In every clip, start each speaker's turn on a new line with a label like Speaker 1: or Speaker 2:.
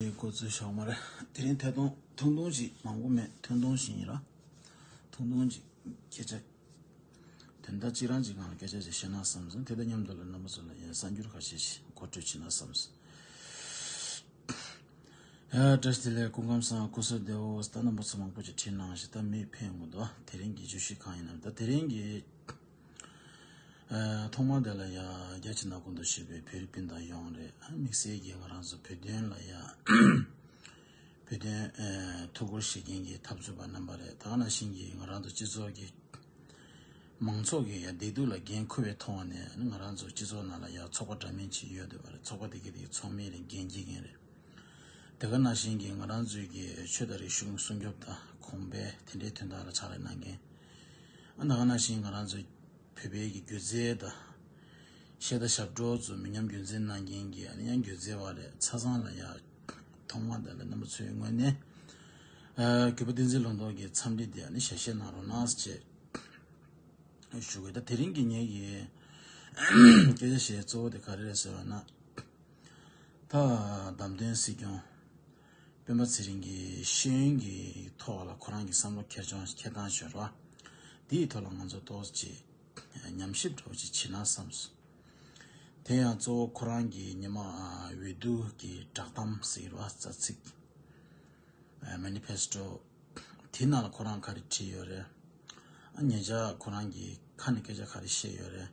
Speaker 1: དེ་གོ་ཚོད་ཞོག་མ་རེད་དེ་རིང་ཐད་གཏོང་ཐུང་ཐུང་ཞིག་མང་པོ་མེད་ཐུང་ཐུང་ཞིག་ཡིན་ར་ཐུང་ཐུང་ཅིག་སྐད་ཆ་དེ་འདྲ་གཅིག་རང་གཅིག་གང་ལ་སྐད་ཆ་ཞིག་བཤད་ན་བསམ་སོང་དེ་དང་མཉམ་དུ་ལ་རྣམ་པ་ཚོ་ལ་ཡང་གསར་འགྱུར་ཁ་ཤས་ཤིག་མཁོ་སྤྲོད་བྱེད་ན་བསམ་སོང། ཡ་བཀྲ་ཤིས་བདེ་ལེགས་སྐུ་ཁམས་བཟང་སྐུ་གསོལ་བདེ་འོ་ད་རྣམ་པ་ཚོ་མང་པོ་ཞིག་བྲིས་གནང་ཞིག་ད་མི་ཕན་དགོས་འདུག་དེ་རིང་གི་བརྗོད་གཞི་གང་ཡིན་ནམ་ད་དེ་རིང་གི། ཐོག་མར་དེ་ལ་ཡང་རྒྱ་ཆེ་ན་གོ་འདུག་ཞེས་པའི་ཕེ་རི་པིན་དང་ཡོང་རེད་དམིགས་བསལ་གྱི་ང་རང་ཚོ་བོད་དོན་ལ་ཡང་བོད་དོན་ཐུགས་ཁུར་བཞེས་མཁན་གྱི་འཐབ་རྩོད་པ་རྣམ་པ་རེད་ད་ནང་བཞིན་གྱི་ང་རང་ཚོ་སྤྱི་ཚོགས་ཀྱི་མང་ཚོགས་ཀྱི་ཡང་བདེ་སྡུག་ལ་འགན་ཁུར་བའི་མཐོང་བ་ནས་ང་རང་ཚོ་སྤྱི་ཚོགས་ནང་ལ་ཡང་ཚོགས་པ་འདྲ་མིན་ཅིག་ཡོད་འདོད་པ་རེད་ཚོགས་པ་དེ་གའི་དེ་གའི་ཚོགས་མི་རེ་འགན་འཁྱེར་མཁན་རེད་དེ་ག་ནང་བཞིན་གྱི་ང་རང་ཚོའི་གྱི་ཆོས་དང་རིག་གཞུང་སྲུང་སྐྱོབ་དང་གོང་འཕེལ་དེ་འདྲའི་དོན་དག་ལ་ཕྱག་ལས་གནང་མཁན། ཨ་ན་ག་ན་བཞིན་ང་རང་ཚོའི་བོད་པའི་གི་སྒྱུ་རྩལ་དང། གཞས་དང་ཞབས་བྲོ་ཚོ་མི་ཉམས་རྒྱུན་འཛིན་གནང་མཁན་གྱི་ཨ་ན་ཡང་སྒྱུ་རྩལ་བ་རེད་ཚ་ཚང་ལ་ཡ། ཐོག་མ་དང་ལས་རྣམ་པ་ཚོའི་ངོས་ནས། གུས་པ་བསྟན་འཛིན་ལུང་རྟོགས་ཀྱི་འཚམས་འདྲི་དེ་ཨ་ནི་ཞལ་བཞེས་གནང་རོགས་གནང་ཅེས། ཞུ་དགོས་ད་དེ་རིང་གི་ངའི་གི། སྐད་ཆ་ཞེས་གཙོ་བོ་དེ་ག་རེ་རེད་ཟེར་བ་ན། ད་བདམས་ཐོན་སྲིད་སྐྱོང། སྤེན་པ་ཚེ་རིང་གིས་ཤེས་ཡོན་གྱི་ཐོག་ལ་ཁོ་རང་གི་བསམ་བློ་ཁེར་རྐྱང་ཁྱེར་སྟངས་ཤོད་རོགས་ཨ། འདིའི་ཐོག་ལ་ང་ཚོ་ཏོག་ཅིག་ཉམས་ཞིབ་སྒྲོག་ཅིག་བྱེད་ན་བསམ་སོང། དེ་ཡང་གཙོ་བོ་ཁོ་རང་གི་ཉི་མ་འོས་བསྡུ་གྱི་བསྒྲགས་གཏམ་ཟེར་བ་རྩ་ཚིག། Manifesto། དེའི་ནང་ལ་ཁོ་རང་ག་རེ་བྲིས་ཡོད་རེད། ཨ་ངེད་ཅག་ཁོ་རང་གི་ཁ་ནས་སྐད་ཆ་ག་རེ་བཤད་ཡོད་རེད།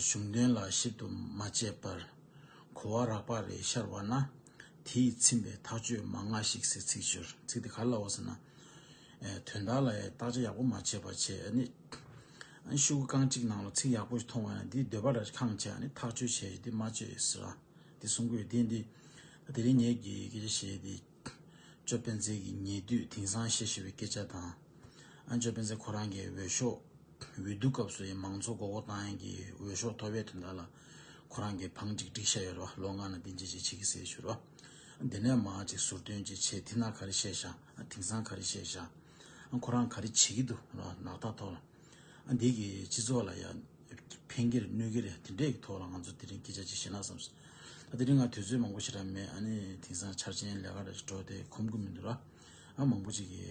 Speaker 1: གཞུང་དོན་ལ་ཞིབ་ཏུ་མ་དཔྱད་པར། གོ་བ་རགས་པ་རེ་ཤར་བ་ན། དེ་ཡིས་ཚིམ་པའི་ཐག་གཅོད་མ་མངའ་ཞིག་ཟེར་ཚིག་སྦྱོར་ཚིག་དེ་ག་ལ་འོག་ཟེར་ན། དོན་དག་ལ་བརྟག་དཔྱད་ཡག་པོ་མ་བྱས་པར་བྱས་ནི། ཤུག་གུ་རྐང་གཅིག་ནང་ལ་ཚིག་ཡག་པོ་མཐོང་བ་ཡང་འདིས་འདོད་པ་རེར་ཁངས་བྱས་ནི་ཐག་གཅོད་བྱས་ཏེ་མ་བཅོས་ཟེར་ར་འདི་གསུང་དགོས་དེ་འདི་དེ་རིང་ངེད་ཀྱིས་སྐད་ཆ་བཤད་དེ། ཅོ་སྤེན་ཚེ་གྱིས་ཉེ་དུས་དེང་སང་བཤད་ཤེས་པའི་སྐད་ཆ་དང། ཨ་ཅོ་སྤེན་ཚེ་ཁོ་རང་གི་འོས་ཤོག་འོས་བསྡུ་སྐབས་སུ་ཡང་མང་ཚོགས་མགོ་སྐོར་བཏང་ཡན་གྱི་འོས་ཤོག་ཐོ་བས་དོན་དག་ལ་ཁོ་རང་གིས་བང་གཅིག་བསྒྲིགས་ཤ་ཡོད་རེད་བ་ལོ་ལྔ་ན་འདི་འབྱེད་ཅེས་བྱེད་ཀྱི་ཟེར་ཞུ་རོགས། འདི་ནས་མང་གཅིག་ཟུར་འདོན་ཅིག་ཆེས་དེ་ན་ག་རེ་བཤད་ཤག་དེང་སང་ག་རེ་བཤད་ཤག་ཁོ་རང་ག་རེ་བྱེད་ཀྱི་འདུག་རོགས་ནག་ཐ་ཐོག་ལ། ཨ་འདི་གི་སྤྱི་ཚོགས་ལ་ཡང་ཕན་གྱི་རེད་གནོད་གྱི་རེད་དེ་འདྲའི་གི་ཐོག་ལ་ང་ཚོ་དེ་རིང་སྐད་ཆ་གཅིག་བཤད་ན་བསམ་སོང། ད་དེ་རིང་ང་དུས་ཚོད་མང་པོ་ཞིག་ལ་མེད་ཨ་ནི་དེང་སང་འཆར་ཅན་ལས་ཀ་ལ་ཞིག་འགྲོ་དེ་ཁོམ་གི་མི་འདུག་ལ། ཨ་མང་པོ་ཅིག་གི་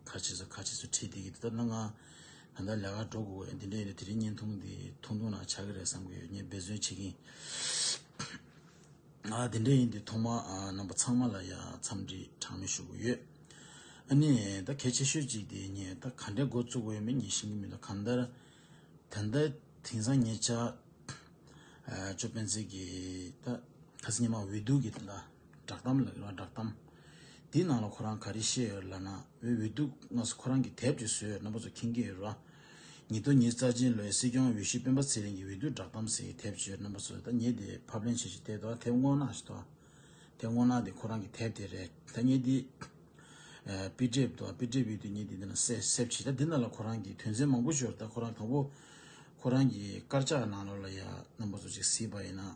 Speaker 1: ཁ་ཕྱེས་སོ་ཁ་ཕྱེས་སོ་ཁྲིད་དེ་གི་དེ་ལྟར་ན་ང་ད་ལྟ་ལས་ཀ་འགྲོ་དགོས་དགོས་ཨ་འདི་འདྲའི་ཡིན་ན་དེ་རིང་བརྙན་ཐུང་འདི་ཐུང་ཐུང་ནང་ཆགས་ཀྱི་རེད་བསམ་གྱི་ཡོད་བརྙན་འབད་བརྩོན་བྱེད་ཀྱིན། དེ་འདྲ་ཡིན་དུས་ཐོག་མར་རྣམ་པ་ཚང་མ་ལ་ཡང་འཚམས་འདྲི་གྲངས་མེད་ཞུ་གི་ཡོད། ཨ་ནི། ད་གལ་ཆེ་ཤོས་གཅིག་དེ་ངས་ད་ག་འདྲའི་འགོ་བཙུགས་འོས་མིན་ངས་ཤེས་ཀྱི་མི་འདུག་གང་ལྟར། ད་ལྟ་དེང་སང་ངེད་ཅག་ཅོ་སྤེན་ཚེ་གི་ད་ཁ་སང་ཉི་མ་འོས་བསྡུ་གི་དེ་འདྲ་བསྒྲགས་གཏམ་ལ་བསྒྲགས་གཏམ་དེའི་ནང་ལ་ཁོ་རང་ག་རེ་བཤད་ཡོད་ལབ་ན་འོས་བསྡུ་སྔ་སོ་ཁོ་རང་གིས་དེབ་ཅིག་བཟོས་ཡོད་རྣམ་པ་ཚོ་མཁྱེན་གྱི་ཡོད་རེད། ཉིད་དོ་ཉིད་རྩ་ཆེན་ལོའི་སྲིད་སྐྱོང་འོས་གཞི་སྤེན་པ་ཚེ་རིང་གི་འོས་བསྡུ་བསྒྲགས་གཏམ་ཟེར་གྱི་དེབ་ཆེ་རྣམ་པ་ཚོ་ད་ངེད་དེ་ཕབ་ལེན་བྱེད་ཅིག་དེབ་དོ་དེབ་སྔོ་ནག་ཞིག་དོ། དེབ་སྔོ་ནག་དེ་ཁོ་རང་གི་དེབ་དེ་རེད་ད་ངེད་དེ། དཔེ་དེབ་དོ་དཔེ་དེབ་ཡོད་དུས་ངེད་དེ་འདི་ན་གསབ་ཅིག་ད་འདི་ན་ལ་ཁོ་རང་གི་དོན་ཚན་མང་པོ་འབྱོར་ད་ཁོ་རང་དང་པོ། ཁོ་རང་གི་དཀར་ཆག་ནང་ལོ་ལ་ཡ་རྣམ་པ་ཚོ་ཅིག་གཟིགས་པ་ཡིན་ན།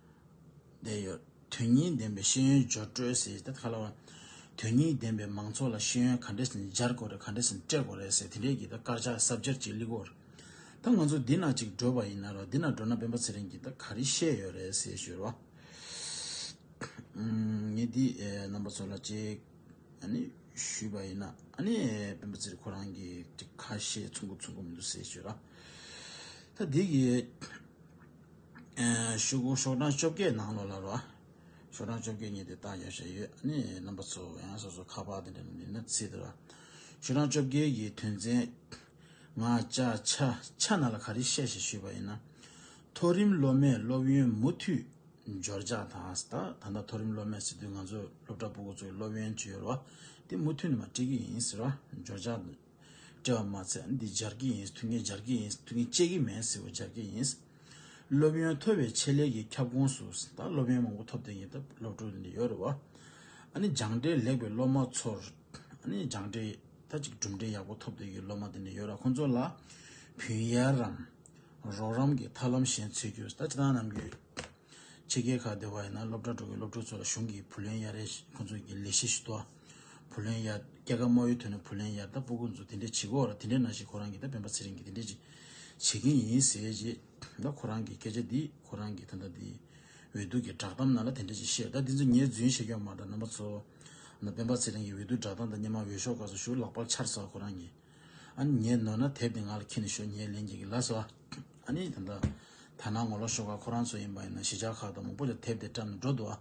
Speaker 1: ལྡན་ཡོད། དོན་སྙིང་ལྡན་པའི་ཤེས་ཡོན་སྦྱོར་སྤྲོད་ཟེར་ཏེ་ཁ་ལོ་བ། དོན་སྙིང་ལྡན་པའི་མང་ཚོགས་ལ་ཤེས་ཡོན་ག་འདྲས་ཟིན་སྦྱར་དགོས་རེད་ག་འདྲས་ཟིན་སྤྲད་དགོས་རེད་ཟེར་དེ་འདྲས་ཀྱི་དཀར་ཆག་གསབ་སྦྱར་གྱི་གླིག་བོར། ད་ང་ཚོ་འདི་ན་ཅིག་འགྲོ་བ་ཡིན་ན་རོགས་འདི་ན་འགྲོ་ན་སྤེན་པ་ཚེ་རིང་གིས་ད་ག་རེ་བཤད་ཡོད་རེད་ཟེར་ཞོར་བ། ངས་འདི་རྣམ་པ་ཚོ་ལ་ཅིག་ཞུས་པ་ཡིན་ན་སྤེན་པ་ཚེ་རིང་ཁོ་རང་གིས་ཅིག་ཁ་ཞེ་ཚུགས་མགོ་ཚུགས་མགོ་མི་འདུག་ཟེར་ཞོར་བ། ད་འདི་གི། ཤོག་གྲངས་བཅོ་བརྒྱད་ནང་ལོགས་ལ་རོ། ཤོག་གྲངས་བཅོ་བརྒྱད་གཉིས་དེ་བཏགས་རྒྱབ་བྱས་ཡོད། ནི་རྣམ་པ་ཚོ་ཡང་སོ་སོ་ཁ་པར་དེ་འདྲ་ནི་ནི་ཚིག་དེ་རོ། ཤོག་གྲངས་བཅོ་བརྒྱད་ཀྱི་དོན་ཚན། ང་ཅག་ཆ་ཆ་ན་ལ་ག་རེ་བཤད་ཞེས་ཞུས་པ་ཡིན་ན། མཐོ་རིམ་སློབ་མས་སློབ་ཡོན་མུ་མཐུད་འབྱོར་འཇགས་དང་ད་ལྟ་ད་ལྟ་མཐོ་རིམ་སློབ་མས་སྲིད་དོན་ང་ཚོ་སློབ་གྲྭ་པུ་གུ་ཚོ་ཡི་སློབ་ཡོན་བྱེད་ཡོད་རོ། དེ་མུ་མཐུད་ནི་མ་བྲིས་ཀི་ཡིན་ཟེར་རོ། འབྱོར་འཇགས། བྲེལ་བ་མ་ཚད་འདི་སྦྱར་གྱི་ཡིན་ཐུགས་ངལ་སྦྱར་གྱི་ཡིན་ཐུགས་ངལ་སྤྱད་ཀྱི་མེད་ཟེར་བ་སྦྱར་གྱི་ཡིན། སློབ་ཡོན་མཐོ་བའི་ཆེད་ལས་ཀྱི་ཁྱབ་ཁོངས་སུ་ད་སློབ་ཡོན་མང་པོ་ཐོབ་བསྡད་ཡིན་སྟབས་སློབ་ཕྲུག་འདི་ཡོད་རེད་བ། ཨ་ནི་སྦྱངས་འབྲས་ལེགས་པའི་སློབ་མ་ཚོར། ཨ་ནི་སྦྱངས་འབྲས་ད་གཅིག་གྲུབ་འབྲས་ཡག་པོ་ཐོབ་བསྡད་ཀྱི་སློབ་མ་འདི་འདྲ་ཡོད་ར་ཁོང་ཚོ་ལ་བུན་གཡར་རམ། རོགས་རམ་གྱི་ཐབས་ལམ་གཞན་འཚོལ་རྒྱུར་ད་ཅི་ད་ནམ་རྒྱུས། ཕྱི་རྒྱལ་ཁག་སྡེ་བ་ཡིན་ན་སློབ་གྲྭ་འགྲོ་མཁན་སློབ་ཕྲུག་ཚོ་ལ་གཞུང་གིས་བུ་ལོན་ཡར་རེས་ཁོ་ཚོ་གི་ལས་གཞི་ཞིག་གཏོད། བུ་ལོན་ཡར། སྐྱེ་ཁམས་དམག་ཡུལ་ཐོན་ནས་བུ་ལོན་ཡར་ལྟ་སྤོ་ཁོ་ཚོ་དེ་འདྲས་བྱེད་དགོས། དེ་འདྲས་ན་ཞིག་ཁོ་རང་གི་ད་སྤེན་པ་ཚེ་རིང་གིས་དེ་འདྲས་ཅིག་བྱེད་ཀྱིན་ཡིན་ཟེར་རྗེས། ད་ཁོ་རང་གིས་སྐད་ཆ་འདི་ཁོ་རང་གི་ད་ལྟ་འདི། འོས་བསྡུ་གི་བསྒྲགས་གཏམ་ནང་ལ་དེ་འདྲས་ཅིག་བཤད། ད་འདི་ཚོ་ཉེས་རྫུན་བཤད་རྒྱུ་མ་གཏོགས་རྣམ་པ་ཚོ། ད་སྤེན་པ་ཚེ་རིང་གི་འོས་བསྡུ་བསྒྲགས་གཏམ་དང་སྙེ་མ་འོས་ཤོག་ཁག་ཚོ་ཞུ་ལག་པར་འཆར་ཟ་ཁོ་རང་གིས། ཨ་ནི་ཉེས་ནོར་ན་དེབ་དེ་ང་ལ་འཁྱེར་ནས་ཤོག་ཉེས་ལེན་བྱེད་ཀྱི་ལགས་སོ། ཨ་ནི་ད་ལྟ་ད་ནངས་ངོ་ལོག་ཤོག་ཁ་ཁོ་རང་ཚོ་ཡིན་པ་ཡིན་ན་གཞིས་ཆགས་ཁག་ཏུ་མང་པོ་ལ་དེབ་དེ་བཀྲམ་ནས་འགྲོ་འདུག་ཨ།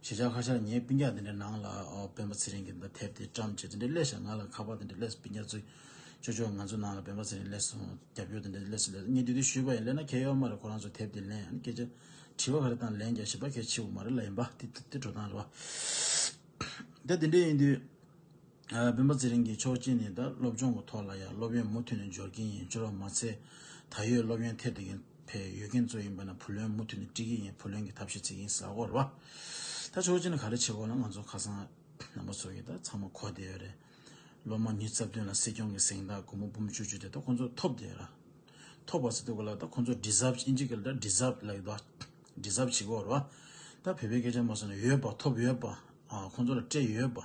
Speaker 1: གཞིས་ཆགས་ཁ་ཤར་ངའི་སྤུན་རྒྱག་དེ་འདྲའི་ནང་ལ་སྤེན་པ་ཚེ་རིང་གིས་ད་ལྟ་དེབ་དེ་བཀྲམ་བྱས་དེ་འདྲའི་སླེ་ཞག་ང་ལ་ཁ་པར་དེ་འདྲའི་སླེ་སོང་སྤུན་རྒྱག་ཚོས་ཅོ་ཅོ་ང་ཚོ་ནང་ལ་སྤེན་པ་ཚེ་རིང་སླེ་སོང་རྒྱབ་སྐྱོར་དེ་འདྲའི་སླེ་སོང་སླེ་སོང་ངས་དུས་དུས་ཞུས་པ་ཡིན་སླེ་ན་ཁྱེད་གཡོག་མ་རེད་ཁོ་རང་ཚོས་དེབ་དེ་ལེན་ཨ་ནི་སྐད་ཆ་དྲི་བ་ག་རེ་དང་ལན་ཀྱང་བྱེད་པ་གལ་ཆེ་བོ་མ་རེད་ལ་ཡིན་པ་དེ་དེ་འགྲོ་སྟངས་རེད་བ། ད་དེ་འདྲས་ཡིན་དུས། སྤེན་པ་ཚེ་རིང་གིས་ཆོག་མཆན་ནི་ད་སློབ་སྦྱོང་གི་ཐོག་ལ་ཡང་སློབ་ཡོན་མུ་མཐུད་ནས་འབྱོར་གྱིན་ཡིན་འབྱོར་བ་མ་ཚད་ད་ཡོད་སློབ་ཡོན་ཐད་དེ་བས་ཡོད་མཁན་གཙོ་ཡིན་པ་ན་བུ་ལོན་མུ་མཐུད་ནས་སྤྲི་གི་ཡིན་བུ་ལོན་གྱི་ཐབས་ཤེས་བྱེད་ཀྱིན་ཟ་གོ་ར་ད་ཆོག་མཆན་ག་རེ་བྱེད་དགོས་ལ་ང་ཚོ་ཁ་སང་རྣམ་པ་ཚོ་གིས་ད་ཚང་མ་གོ་བསྡད་ཡོད་རེད་སློབ་མ་ཉིས་རྩ་བདུན་ལ་སྲིད་སྐྱོང་གི་གཟེངས་རྟགས་སྒོར་མོ་འབུམ་བཅུ་བཅུ་དེ་ད་ཁོང་ཚོ་ཐོབ་བསྡད་ཡོད་ར་ཐོབ་པ་ཚོ་ཐུག་གི་ལ་ད་ཁོང་ཚོ deserve ཨིན་ཇི་གི་ལ་ད deserve ལ་ཡོད་པ deserve བྱེད་གོ་ར་ད་བོད་པའི་སྐད་ཆ་མ་གསུངས་ན་ཡོད་པ་ཐོབ་ཡོད་པ་ཁོང་ཚོ་ལ་སྤྲད་ཡོད་པ།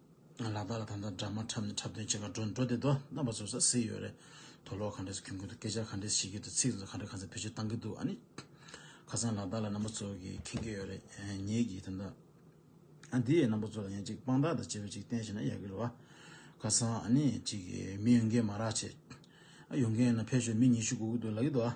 Speaker 1: ལ་དྭགས་ལ་ད་ལྟ་སྦྲགས་མ་འཁྲབ་ནས་འཁྲབ་སྟོན་བྱེད་ཁར་འགྲོ་འགྲོ་བསྡད་དོ་རྣམ་པ་ཚོ་ཟ་ཟི་ཡོད་རེད་དོ་ལོག་ག་འདྲས་སུ་གྱོན་གི་འདུག་སྐད་ཆ་ག་འདྲས་བཤད་ཀྱི་འདུག་ཚིག་ཟུར་ག་འདྲས་ག་ཚད་བེད་སྤྱོད་བཏང་གི་འདུག་ཨ་ནི། ཁ་སང་ལ་དྭགས་ལ་རྣམ་པ་ཚོ་གིས་མཁྱེན་གྱི་ཡོད་རེད་ངེད་ཀྱིས་ད་ལྟ། ཨ་འདི་ཡའི་རྣམ་པ་ཚོ་ལ་ཡང་ཅིག་དཔང་རྟགས་དང་བཅས་པའི་ཅིག་བསྟན་བྱས་ན་ཡག་གི་རེད་བ། ཁ་སང་ཨ་ནི་ཅིག་མི་ཡོང་མཁན་མ་རག་བྱས། ཨ་ཡོང་མཁན་ཡོད་ན་ཕེབས་ཤོག་མི་ཉི་ཤུ་སྒུག་གི་འདུག་ལགས་ཀྱི་འདུག་ཨ།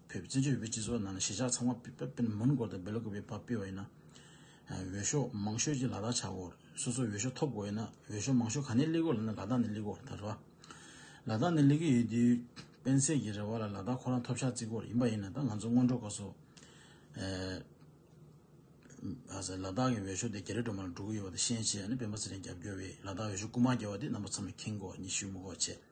Speaker 1: བོད་བཙན་བྱོལ་བོད་སྤྱི་ཚོགས་ནང་གཞིས་ཆགས་ཚང་མ་པདྨ་མོན་གོར་དང Belok Valley བབས་སྤེལ་བ་ཡིན་ན། འོས་ཤོག་མང་ཤོས་ཀྱིས་ལ་དྭགས་ཆགས་སྐོར། སོ་སོ་འོས་ཤོག་ཐོབ་དགོས་ཡོད་ན་འོས་ཤོག་མང་ཤོས་ག་ནས་བསླེས་དགོས་ལབ་ན་ལ་དྭགས་ནས་བསླེས་སྐོར་ད་རེད། ལ་དྭགས་ནས་བསླེས་ཀྱི་ཡོད་དུས་སྤེན་ཚེས་ཀྱི་རེ་བ་ལ་ལ་དྭགས་ཁོ་རང་ཐོབ་ཤག་བརྩི་སྐོར་ཡིན་པ་ཡིན་ན་ད་ང་ཚོ་སྔོན་འགྲོ་དགའ་སོ། ལ་དྭགས་ཀྱི་འོས་ཤོག་དེ་རྒྱ་རི་སྒྲོལ་མ་ལ་འགྲོ་གི་ཡོད་པ་དེ་ཤེས་ཆེ་ཡང་ནི་སྤེན་པ་ཚེ་རིང་རྒྱབ་སྐྱོར་བས་ལ་དྭགས་འོས་ཤོག་རྐུ་མ་རྒྱལ་བ་དེ་རྣམ་པ་ཚང་མ་ཁེངས་སྐོར་གཉིས་ཞུས་མོ་ཁོ་བྱས།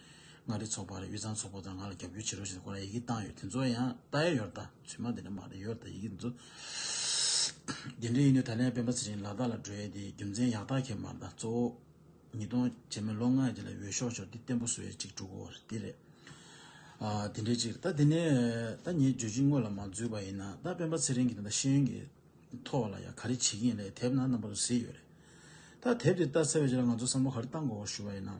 Speaker 1: མངའ་རིས་ཚོགས་པ་རེད་དབུས་གཙང་ཚོགས་པ་དང་ང་ལ་རྒྱབ་སྐྱོར་བྱེད་རོགས་ཞེས་སྐོར་ལ་ཡི་གེ་བཏང་ཡོད་དེ་ཚོ་ཡང་བལྟ་ཡ་ཡོད་ད་ཚོད་མ་དེ་འདྲ་མ་རེད་ཡོད་ད་ཡི་གེ་འདི་ཚོ། དེ་འདྲ་ཡིན་དུས་ད་ལན་སྤེན་པ་ཚེ་རིང་ལ་དྭགས་ལ་བགྲོད་ཡས་དེ་རྒྱུ་མཚན་ཡག་ཐག་ཁེབས་མ་ད་གཙོ་བོ། ཉིས་སྟོང་བྱས་མ་ལོ་ལྔ་རྗེས་ལ་འོས་ཤོག་ཤོག་དེ་བརྟན་པོ་བཟོ་ཡས་ཅིག་འགྲོ་གོ་དེ་རེད། དེ་འདྲའི་ཅིག་རེད་ད་དེ་ནས་ད་ངས་བརྗོད་ཅིག་དངོས་ལ་མ་འཛུལ་བ་ཡིན་ན་ད་སྤེན་པ་ཚེ་རིང་གིས་ད་ཤེས་ཡོན་གྱི་ཐོག་ལ་ཡང་ག་རེ་བྱེད་ཀྱིན་ལས་དེབ་ནང་རྣམ་པ་དུ་གཟིགས་ཡོད་རེད་ད་དེབ་དེ་བལྟ་ཚར་བའི་རྗེས་ལ་ང་ཚོ་བསམ་བློ་ག་རེ་བཏང་དགོ་གོ་ཞུ་བ་ཡིན་ན།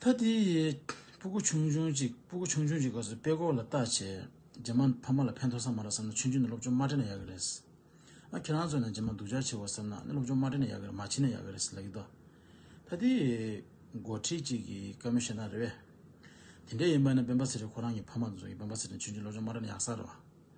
Speaker 1: ཐ་དེ་ཡི་སྤུ་གུ་ཆུང་ཆུང་ཅིག་སྤུ་གུ་ཆུང་ཆུང་ཅིག་གོ་སོ་དཔེ་ཀོ་ལ་ལྟ་བྱས། རྗེས་མ་ཕ་མ་ལ་ཕན་ཐོགས་ས་མ་རག་བསམ་ན་ཆུང་ཆུང་ནས་སློབ་སྦྱོང་མ་དྲན་ན་ཡག་གི་རེད། ཨ་ཁྱེད་རང་ཚོ་ནས་རྗེས་མ་སྡུག་ཅག་བྱེད་དགོས་བསམ་ན་སློབ་སྦྱོང་མ་དྲན་ན་ཡག་གི་རེད་མ་བྱེད་ན་ཡག་གི་རེད་ལབ་ཀྱི་འདུག་ཐ་དེ་ཡི་འགོ་ཁྲིད་ཅིག་གི་བཀའ་མོལ་ཞེ་འདང་རེད་བས། དེ་འདྲ་ཡིན་པ་ནི་སྤེན་པ་ཚེ་རིང་ཁོ་རང་གི་ཕ་མ་ཚོ་ཡིན་སྤེན་པ་ཚེ་རིང་ཆུང་ཆུང་སློབ་སྦྱོང་མ་དྲན་ན་ཡག་ས་རེད་བ།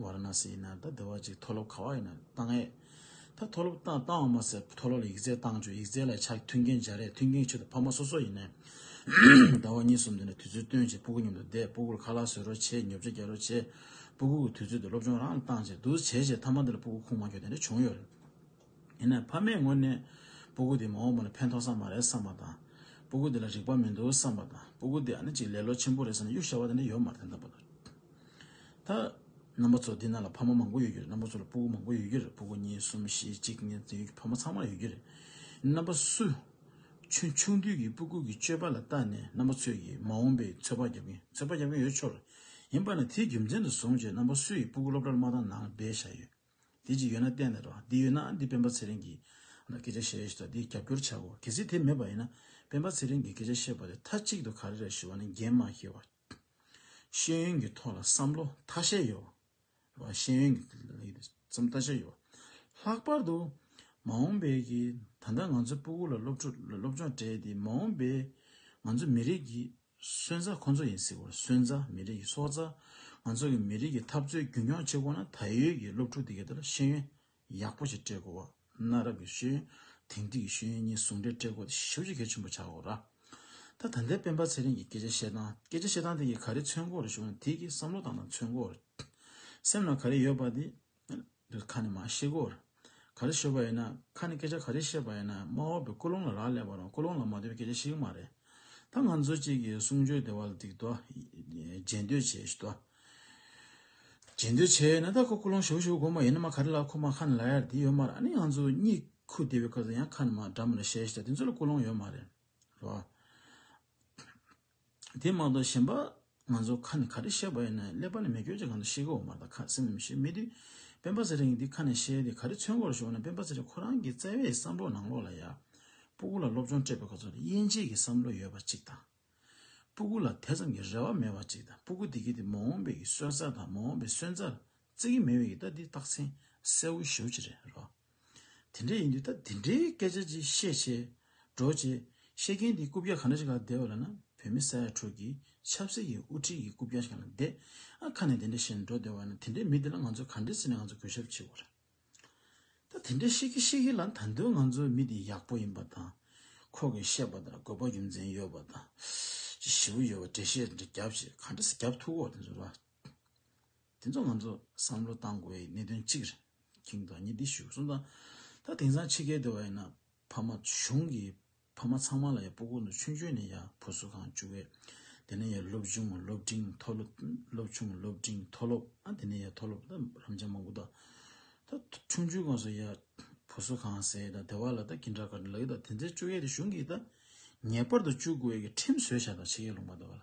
Speaker 1: ཝཱ་ར་ན་སི་ཡིན་ན་ད་བདེ་བ་ཅིག་མཐོ་སློབ་ག་བ་ཡིན་ན་བཏང་ཨེ། ད་མཐོ་སློབ་བཏང་བཏང་བ་མ་ཟད་མཐོ་སློབ་ལ་ཡིག་རྩལ་བཏང་བྱོས་ཡིག་རྩལ་ལ་ཆ་མཐུན་མཁན་སྦྱར་རེས་མཐུན་མཁན་ཁྱོད་དང་ཕ་མ་སོ་སོ་ཡིན་ནས། ཟླ་བ་གཉིས་གསུམ་འདི་ནས་དུས་ཚོད་སྟོན་བྱས་སྤུ་གུ་མཉམ་དུ་བསྡད་སྤུ་གུར་ཁ་ལག་བཟོས་རོགས་བྱས་ཉོབ་ཆ་རྒྱག་རོགས་བྱས་སྤུ་གུ་གི་དུས་ཚོད་དེ་སློབ་སྦྱོང་རང་ལ་བཏང་བྱས་འདུག་བྱས་བྱས་མཐའ་མ་འདི་ལ་སྤུ་གུ་ཁུངས་མ་འཁྱོལ་དེ་འདྲ་བྱུང་ཡོད་རེད། ཡིན་ནའི་ཕ་མའི་ངོས་ནས་སྤུ་གུ་དེ་མ་འོངས་པ་ལ་ཕན་ཐོགས་ས་མ་རེད་བསམ་པ་དང། སྤུ་གུ་དེ་ལ་རིག་པ་མི་འདུག་བསམ་པ་དང་སྤུ་གུ་དེ་ཨ་ནི་ཅིག་ལས་ལོ་ཆེན་པོ་རེད་བསམ་ན་གཡུག་ཞར་བ་དེ་འདྲ་ཡོད་མ་རེད་འདོད་པ་ལ། ད། རྣམ་པ་ཚོ་འདི་ན་ལ་ཕ་མ་མང་པོ་ཡོད་རྒྱུ་རེད་རྣམ་པ་ཚོ་ལ་སྤུ་གུ་མང་པོ་ཡོད་རྒྱུ་རེད་སྤུ་གུ་གཉིས་གསུམ་བཞི་གཅིག་གཉིས་དེ་ཡོད་རྒྱུ་ཕ་མ་ཚང་མར་ཡོད་རྒྱུ་རེད། རྣམ་པ་སུ། ཁྱོད་ཆུང་དུས་ཀྱི་སྤུ་གུ་གི་སྤྱོད་པ་ལ་བལྟ་ནས་རྣམ་པ་ཚོས་ཀྱིས་མ་འོངས་པའི་ཚོད་དཔག་རྒྱབ་ཀྱིན་ཚོད་དཔག་རྒྱབ་ཀྱིན་ཡོད་ཆོག་རེད། ཡིན་པ་ནི་དེའི་རྒྱུ་མཚན་དུ་བཟུང་རྗེས་རྣམ་པ་སུ་ཡིས་སྤུ་གུ་སློབ་གྲྭར་མ་བཏང་ནའང་སྦས་བཞག་ཡོད། དེ་ཅིག་ཡོད་ན་བསྟན་ནས་རོགས། དེ་ཡོད་ན་འདི་སྤེན་པ་ཚེ་རིང་གིས། སྐད་ཆ་བཤད་ཡོད་ཚོད་དག་དེ་རྒྱབ་སྐྱོར་བྱ་གོ། གལ་སྲིད་དེ་མེད་པ་ཡིན་ན། སྤེན་པ་ཚེ་རིང་གིས་སྐད་ཆ་བཤད་པ་དེ་མཐའ་གཅིག་ཏུ་ག་རེ་རེད་ཞུ་བ་ནི་འགན་མ་ཤེས་བ། ཤེས་ཡོན་གྱི་ཐོག་ལ་བསམ་བློ་མཐའ་ཤས་ཡོད་བ། ཤེས་ཡོན་གྱི་ཐོག་ལ་བསམ་བློ་མཐའ་ཤས་ཡོད་བ། ལྷག་པར་དུ། མ་འོངས་པའི་གི་ད་ལྟ་ང་ཚོའི་སྤུ་གུ་ལ་སློབ་ཕྲུག་སློབ་སྦྱོང་སྤྲད་དེ་མ་འོངས་པའི་ང་ཚོ་མི་རིགས་ཀྱི་གསོན་རྩ་ཁོ་ཚོ་ཡིན་སྲིད་བར་གསོན་རྩ་མི་རིགས་ཀྱི་སྲོག་རྩ། ང་ཚོ་གི་མི་རིགས་ཀྱི་འཐབ་རྩོད་རྒྱུན་སྐྱོང་བྱེད་དགོས་ན་ད་ཡོད་ཀྱི་སློབ་ཕྲུག་དེ་གའི་དེར་ཤེས་ཡོན་ཡག་པོ་ཞིག་སྤྲད་དགོས་བ་གནའ་རབས་ཀྱི་ཤེས་ཡོན་དེང་དུས་ཀྱི་ཤེས་ཡོན་གཉིས་ཟུང་འབྲེལ་སྤྲད་དགོས་དེ་ཞིབ་ཀྱིས་གལ་ཆེན་པོ་བྱ་དགོས་ར། ད་ད་ལྟའི་སྤེན་པ་ཚེ་རིང་གིས་སྐད་ཆ་བཤད་སྟངས་སྐད་ཆ་བཤད་སྟངས་དེ་གིས་ག་རེ་མཚོན་སྒོ་རེ་ཞུགས་ན་དེ་གིས་བསམ་བློ་བཏང་སྟངས་མཚོན་སྒོ་རེ་སེམས་ན་ག་རེ་ཡོད་པ་དེ་ཁ་ནས་མ་བཤད་གོ། ག་རེ་ཤོད་པ་ཡིན་ན་ཁ་ནས་སྐད་ཆ་ག་རེ་བཤད་པ་ཡིན་ན་མ་འོངས་པའི་ཀོ་ལོང་ལ་རག་ལས་པ་རང་ཀོ་ལོང་ལ་མ་ལྟོས་པའི་སྐད་ཆ་བཤད་གི་མ་རེད། ད་ང་ཚོ་གཅིག་གིས་གསུང་ཆོས་སྡེ་བ་ལ་སྡིག་ཏོ། རྗེས་འདོད་བྱས་ཞུ་ཏོ། རྗེས་འདོད་བྱས་ཡོད་ན་ད་ཁོ་ཀོ་ལོང་ཞུ་ཞུ་དགོས་མ་ཡིན་ནམ་ག་རེ་ལ་ཁོ་མ་ཁ་ནས་ལ་ཡར་འདི་ཡོད་མ་རེད་ཨ་ནི་ང་ཚོ་གཉིས་ཁུ་སྡེ་བའི་སྐབས་སུ་ཡང་ཁ་ནས་མ་འདྲ་མོ་རེ་བཤད་ཞུ་ད་དེ་ཚོ་ལ་ཀོ་ལོང་ཡོད་མ་རེད་རོ། དེ་མ་གཏོགས་གཞན་པ་ང་ཚོ་ཁ་ནས་ག་རེ་བཤད་པ་ཡིན་ནའི་ཀླད་པ་ནས་མི་སྐྱོན་ཅིག་གང་དུ་ཤེས་གི་འོ་མ་ད་ཁ་སེམས་ནས་མི་ཤེས་མི་དུས་སྤེན་པ་ཚེ་རིང་འདི་ཁ་ནས་བཤད་དེ་ག་རེ་ཚོན་སྐོར་ཞོག་ནས་སྤེན་པ་ཚེ་རིང་ཁོ་རང་གི་བརྩེ་བའི་བསམ་བློ་ནང་ལོག་ལ་ཡ། སྤུ་གུ་ལ་སློབ་སྦྱོང་སྤྲད་པའི་ག་ཚོད་ལ་དབྱེ་འབྱེད་ཀྱི་བསམ་བློ་ཡོད་པ་ཅིག་དང། སྤུ་གུ་ལ་དེ་ཙམ་གྱི་རེ་བ་མེད་པ་ཅིག་དང་སྤུ་གུ་དེ་གས་དེ་མ་འོངས་པའི་གི་གསོན་རྩ་དང་མ་འོངས་པའི་གསོན་རྩར་བརྩི་གི་མེད་པའི་གི་ད་འདི་རྟགས་མཚན་གསལ་བོ་ཞུ་ཅི་རེད་རོགས། དེ་འདྲ་ཡིན་དུས་ད་དེ་འདྲའི་སྐད་ཆ་ཅིག་བཤད་བྱས། འགྲོ་བྱས། བཤད་མཁན་དེ་རྐུབ་བཀྱག་ག་འདྲ་ཞིག་ལ་བསྡད་པ་ལ་ན་བོད་མི་ས་ཡ་དྲུག་གི་ཆབ་སྲིད་ཀྱི་དབུ་ཁྲིད་ཀྱི་རྐུབ་བཀྱག་ཞིག་ལ་བསྡད། ཨ་ཁ་ནས་དེ་འདྲ་བཤད་ནས་འགྲོ་བསྡད་བ་ན་དེ་འདྲའི་མི་དེ་ལ་ང་ཚོས་ག་འདྲའི་བརྩི་ནས་ང་ཚོ་གུས་ཞབས་བྱེད་དགོས་རེད། ད་དེ་འདྲ་བཤད་གི་བཤད་གི་ལ་ད་དུང་ང་ཚོའི་མི་དེ་ཡག་པོ་ཡིན་པ་དང། ཁོ་གིས་བཤད་པ་ལྟར་དགོས་པ་རྒྱུ་མཚན་ཡོད་པ་དང། ཅི་ཞིབ་ཡོད་པ་འགྲེལ་བཤད་འདྲ་རྒྱབ་བྱས་ག་འདྲ་སེ་རྒྱབ་ཐུག་གོ་དེ་ཚོ་ལ། དེ་ཚོ་ང་ཚོ་བསམ་བློ་གཏང་དགོས་པའི་གནད་དོན་གཅིག་རེད། ཁྱེད་ཀྱི་ཉིད་འདི་ཞུ་གསུང་དང། ད་དེང་སང་ཕྱི་རྒྱལ་དུ་བ་ཡིན་ན་ཕ་མ་གཞུང་གི་ཕ་མ་ཚང་མ་ལ་ཡང་པོ་ཀུན་ཏུ་ཆུང་ཆུང་ནས་ཡང་བུ་སུ་གང་བཅུག་བས། དེ་ནས་ཡང་སློབ་ཆུང་སློབ་འབྲིང་མཐོ་སློབ་སློབ་ཆུང་སློབ་འབྲིང་མཐོ་སློབ་ཨ་དེ་ནས་ཡང་མཐོ་སློབ་ད་རམ་འབྱམས་མང་པོ་དང། ད་ཆུང་ཆུང་གང་སུ་ཡང་བུ་སུ་གང་ཟེར་ད་དེ་བ་ལ་ད་གྱི་འདྲ་ག་འདྲ་ལ་ཡོད་ད་དེ་ཚོའི་བཅུག་ཡས་དེ་གཞུང་གིས་ད་ངེས་པར་དུ་བཅུག་དགོས་ཀྱི་ཁྲིམས་བཟོས་བྱ་ད་ཕྱི་རྒྱལ་ལུང་པ་དུ་བ་ལ།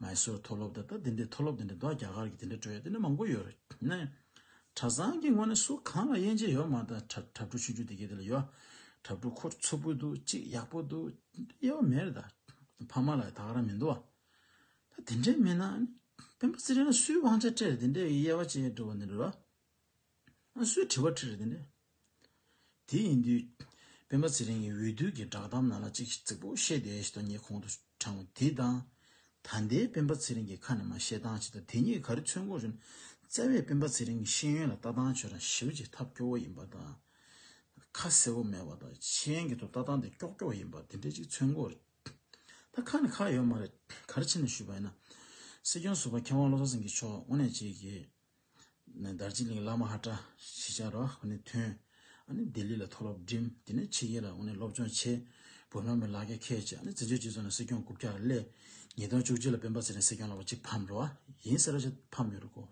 Speaker 1: མཱེ་སོར་མཐོ་སློབ་དང་ད་དེ་འདྲའི་མཐོ་སློབ་དེ་འདྲ་འདུག་རྒྱ་གར་གྱི་དེ་འདྲ་སྤྲོས་དེ་འདྲ་མང་པོ་ཡོད་རེད་ནའི། གྲྭ་ཚང་གི་ངོས་ནས་སུ་གང་ལ་དབྱེ་འབྱེད་ཡོད་མ་ད་གྲྭ་གྲྭ་ཕྲུག་ཆུང་ཆུང་དེ་གས་དེ་ལ་ཡོད། གྲྭ་ཕྲུག་ཁོ་ཚོ་བུ་འདུག་གཅིག་ཡག་པོ་འདུག་དེ་འདྲ་དབྱེ་བ་མེད་རེད་ད། ཕ་མ་ལ་ཡང་དག་རང་མི་འདུག་ཨ། ད་དེ་འདྲ་མིན་ན། བོན་པོ་ཚེ་རིང་ལ་སུའི་དབང་ཆ་སྤྲད་རེད་དེ་འདྲའི་དབྱེ་བ་ཅེས་འབྲི་བ་འདི་འདྲ་རེད། སུའི་དྲི་བ་དྲིས་རེད་ནི། དེ་ཡིན་དུས། སྤེན་པ་ཚེ་རིང་གིས་འོས་བསྡུ་གི་བསྒྲགས་གཏམ་ནང་ལ་ཅིག་རྩིག་པོ་བཤད་བསྡད་ཞེས་དོན་གཉེར་གོང་དུ་དྲངས་པ་དེ་དང། ད་ལྟའི་སྤེན་པ་ཚེ་རིང་གི་ཁ་ནས་མ་བཤད་སྟངས་ཅིག་དང་དེ་གཉིས་ག་རེ་མཚོན་གོང་རིམ་བསྩལ་བས་སྤེན་པ་ཚེ་རིང་གི་ཤེས་ཡོན་ལ་ལྟ་སྟངས་ཆོས་དང་ཞི་བ་ཅིག་ཐབས་སྐྱོ་བོ་ཡིན་པ་དང། ཁ་གསལ་བོ་མེད་པ་དང་ཆེན་གྱི་ཐོག་ལྟ་སྟངས་དེ་ཀྱོག་ཀྱོག་ཡིན་པ་དེ་འདྲ་ཅིག་མཚོན་གོ་རེད། ད་ཁ་ནས་ཁག་ཡོད་མ་རེད་ག་རེ་ཕྱི་ནས་ཞུས་པ་ཡིན་ན། སྲིད་སྐྱོང་ཟུར་པ་མཁས་དབང་བློ་བཟང་སེང་གེ་མཆོག་དངོས་གནས་གཅིག་གིས། ནས་དར་ཅིག་ལིང་བླ་མ་ཧ་ཀྲ་ཞེས་བྱ་རོ་ཧ་ནས་ཐོན། ཨ་ནི་ལྡི་ལི་ལ་མཐོ་སློབ་འགྲིམ། དེ་ནས་ཕྱི་རྒྱལ་ལ་ཨོ་ནས་སློབ་སྦྱོང་བྱས། བོད་ལྷོ་མའི་ལག་སྐྱ་ཁས་བཅད་ཨ་ནི་བཙན་བྱོལ་སྤྱི་ཚོགས་ནང་སྲིད་སྐྱོང་དགུ་བརྒྱ་ལ་སླེབས། ཉིས་སྟོང་བཅུ་གཅིག་ལ་སྤེན་པ་ཚེ་རིང་སྲིད་སྐྱོང་ལ་བ་གཅིག་ཕམ་རོ་ཨ་ཡིན་ཟེར་རོ་ཞེས་ཕམ་ཡོད་རེད་གོ།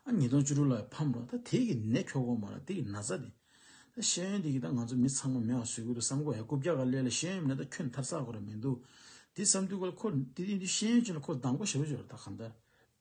Speaker 1: ཨ་ཉིས་སྟོང་བཅུ་དྲུག་ལ་ཕམ་རོ་ད་དེ་གི་ནད་ཁྱོ་གོ་མ་ར་དེ་གི་ན་ཚ་དེ། ད་ཤེས་ཡོན་དེ་གི་ད་ང་ཚོ་མི་ཚང་མ་མེ་བ་བཟོས་གི་འདུག་བསམ་གོ་ཧེ་དགུ་བརྒྱ་ག་སླེ་ལ་ཤེས་ཡོན་མེད་ད་ཁྱོད་མཐར་ཚག་གོ་ར་མི་འདུག་དེ་བསམ་དུས་གོ་ལ་ཁོ་དེ་དེ་དུས་ཤེས་ཡོན་ཅན་ལ་ཁོ་སྡང་པོ་ཞེ་པོ་བྱོས་ར་ད་གང་ལྟར།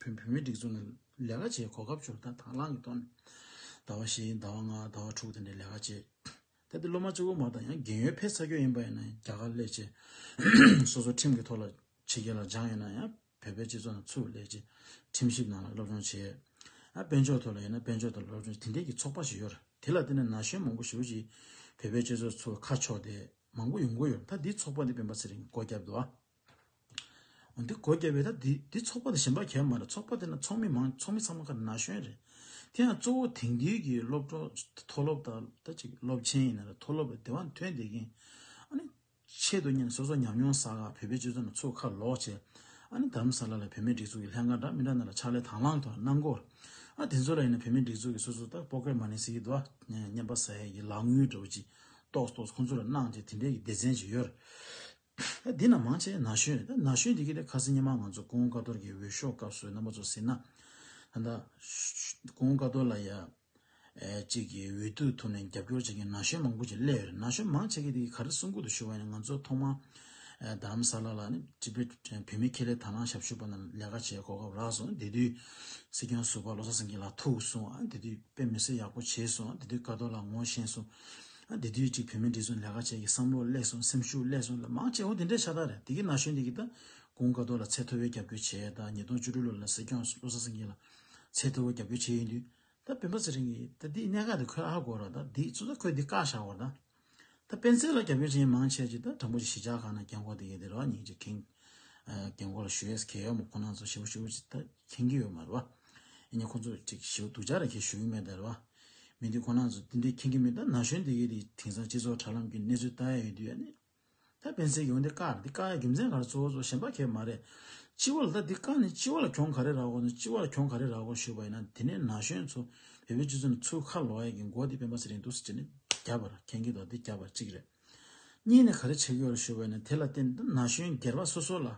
Speaker 1: བོད་མི་སྒྲིག་འཛུགས་ནང་ལས་ཀ་བྱེད་གོ་སྐབས་འབྱོར་ཐང་དང་བླངས་ཀྱི་ཐོག་ནས། ཟླ་བ་བཞི་ཟླ་བ་ལྔ་ཟླ་བ་དྲུག་དེ་འདྲའི་ལས་ཀ་བྱས། གལ་ཏེ་སློབ་མ་གཅིག་བུ་མ་དང་ཡང་རྒན་ཡོལ་ཕེབས་ཚར་རྒྱུ་ཡིན་པ་ཡིན་ན་ཡང་རྒྱ་གར་ལས་བྱེད། སོ་སོ་ཁྲིམས་ཀྱི་ཐོག་ལ་ཕྱི་རྒྱལ་ལ་སྦྱངས་ཡོད་ན་ཡང་བོད་པའི་སྤྱི་ཚོགས་ནང་ཚུར་ལས་བྱེད་ཁྲིམས་ཞིབ་ནང་ལ་སློབ་སྦྱོང་བྱས། དཔལ་འབྱོར་ཐོག་ལ་ཡིན་ན་དཔལ་འབྱོར་ཐོག་ལ་སློབ་སྦྱོང་དེ་འདྲའི་གྱི་ཚོགས་པ་ཞིག་ཡོད་རེད་དེ་ལ་བརྟེན་ནས་ན་གཞོན་མང་པོ་ཞིག་བོད་པའི་སྤྱི་ཚོགས་ཚུར་ཁ་ཕྱོགས་ཏེ་མང་པོ་ཡོང་གི་ཡོད་རེད་ད་འདིའི་ཚོགས་པ་འདི་སྤེན་པ་ཚེ་རིང་མགོ་བརྒྱབ་འདུག་ཨ། འོན་ཏེ་གོ་རྒྱ་བས་ད་དེ་དེ་ཚོགས་པ་དང་གཞན་པ་གལ་མ་རེད་ཚོགས་པ་དེ་ན་ཚོགས་མི་མང་ཚོགས་མི་ཚང་མ་ཁ་ན་གཞོན་རེད། དེ་ཡང་གཙོ་བོ་དེང་དུས་ཀྱི་སློབ་གྲོགས་མཐོ་སློབ་དང་ད་ཅིག་སློབ་ཆེན་ཡིན་ན་རེད་མཐོ་སློབ་ལ་དེ་བ་འཐོན་བསྡད་མཁན། ཨ་ནི་ཆེད་དུ་གཉེར་ནས་སོ་སོ་ཉམས་མྱོང་བསགས་ཁག་བོད་པའི་སྤྱོད་ཚུལ་ན་ཚུར་ཁ་ལོག་བྱས། ཨ་ནི་དར་མ་ས་ལ་ལ་བོད་མིའི་སྒྲིག་འཛུགས་ཀྱི་ལྷན་ཁང་འདྲ་མི་འདྲ་རྣམས་ལ་ཕྱག་ལས་དང་བླངས་ཐོག་གནང་སྐོར། ཨ་དེ་ཚོ་ལ་ཡིན་ན་བོད་མིའི་སྒྲིག་འཛུགས་ཀྱི་སོ་སོ་ད་པོ་ཀེར་མ་ནི་སི་ཡི་དོ་བརྙན་པ་ས་ཡ་ཡི་ལག་དངུལ་འདྲ་བོ་ཅིག་ཏོགས་ཏོགས་ཁོང་ཚོ་ལ་གནང་བྱས་དེ་འདྲའི་ཡི་སྡེ་ཚན་ཅིག་ཡོད་རེད། འདི་རྣམས་མང་ཆེ་ན་གཞོན་ན་གཞོན་དེ་གི་ལས་ཁ་སེ་སྙེ་མ་ང་ཚོ་ཀོང་དཀའ་ཐོར་གི་འོས་ཤོག་སྐབས་སུ་རྣམ་པ་ཚོ་ཟིན་ན་ད་ད་ཀོང་དཀའ་ཐོར་ལ་ཡ་གཅིག་གི་འོས་བསྡུ་ཐུབ་ནས་རྒྱབ་སྐྱོར་བྱེད་མཁན་ན་གཞོན་མང་པོ་ཅིག་སླེ་ཡོད་རེད་ན་གཞོན་མང་ཆེ་གི་དེ་གི་ག་རེ་གསུང་ཁུལ་དུ་ཞུ་བ་ཡིན་ན་ང་ཚོ་ཐོག་མ་དམ་ས་ལ་ལ་ནི་སྤྱི་བེ་བོད་མི་ཁེ་ལས་དར་ནང་ཞབས་ཞུ་བ་ན་ལས་ཀ་བྱས་གོ་གབ་རག་སོང་དེ་དུས་སྲིད་སྐྱོང་ཟུར་པ་བློ་བཟང་སེང་གེ་ལ་ཐུག་སོང་ཨ་དེ་དུས་དཔེ་མི་སེ་ཡག་པོ་བྱས་སོང་ཨ་དེ་དུས་དཀའ་ཐོར་ལ་ངོ་ཤེས་སོང། དེ་དུས་ཀྱི་བོད་མི་འདི་ཚོ་ལས་ཀ་བྱེད་ཀྱི་བསམ་བློ་བསླེས་སོང་སེམས་ཤུགས་བསླེས་སོང་ལ་མང་ཆེ་བོ་དེ་འདྲའི་ཤ་ཏག་རེད་དེ་གི་ན་གཞོན་དེ་གི་ད་གུང་དཀའ་སྡུག་ལ་ཚད་མཐོ་བའི་རྒྱབ་སྐྱོར་བྱས་ད་ཉིས་སྟོང་བཅུ་དྲུག་ལོ་ལ་སྲིད་སྐྱོང་བློ་བཟང་སེང་གེ་ལ་ཚད་མཐོ་བའི་རྒྱབ་སྐྱོར་བྱས་ཡོད་དུས་ད་བོད་པ་ཚེ་རིང་གི་ད་འདི་གནད་འགག་དེ་ཁོས་ཨ་གོ་ར་ད་འདི་ཚོ་ད་ཁོས་འདི་བཀག་བཞག་བར་ད་ད་སྤེན་ཚེ་ལ་རྒྱབ་སྐྱོར་བྱེད་མཁན་མང་ཆེ་གི་ད་དྲང་པོ་ཅིག་གཞིས་ཆགས་ཁག་ན་རྒན་འཁོག་དེ་གི་དེ་རོགས་གཉིས་ཀྱི་ཁེངས་རྒན་འཁོག་ལ་ཞུ་ཡས་གས་ཡོག་མོ་ཁོ་ན་ཚོ་ཞེ་བོ་ཞེ་བོ་ཅིག་ད་ཁེངས་གི་ཡོད་མ་རེད་བ། ཡིན་ཡང་ཁོ་ཚོ་ཅིག་ཞེ་བོ་སྡུག་ཅག་རེ་གས་ཞུ་གི་མེད་ད་རེད་བ། མི་འདི་ཁོ་ན་ཚོ་དེ་འདྲའི་མཁྱེན་གི་མི་འདུག་ན་གཞོན་སྡེ་དགེ་དེ་དེང་སང་སྤྱི་ཚོགས་དྲ་ལམ་གི་གནས་ཚུལ་ལྟ་ཡ་ཡོད་དུས་ཡ་ནི། ད་སྤེན་ཚེ་ཡོང་འདི་ཀར་འདི་ཀ་རྒྱུ་མཚན་ག་རེ་གཙོ་བོ་ཚོ་གཞན་པ་ཁྱེད་མ་རེད། སྤྱི་བོ་ལ་ད་འདི་ཀ་ནི་སྤྱི་བོ་ལ་གྱོང་ག་རེ་རག་གོ་ནི་སྤྱི་བོ་ལ་གྱོང་ག་རེ་རག་གོ་ཞུས་པ་ཡིན་ན་དེ་ནས་ན་གཞོན་ཚོ་བལ་བོའི་སྤྱི་ཚོགས་ནི་ཚུར་ཁ་ལོག་ཡ་གི་མགོ་འདི་སྤེན་པ་ཚེ་རིང་འདུག་ཟེར་ནི་རྒྱབ་པར་མཁྱེན་གི་འདུག་འདི་རྒྱབ་པར་གཅིག་རེད། གཉིས་ནས་ག་རེ་བྱེད་གི་ཡོད་རེད་ཞུས་པ་ཡིན་ན་དེ་ལ་བརྟེན་ད་ན་གཞོན་སྒེར་པ་སོ་སོ་ལ་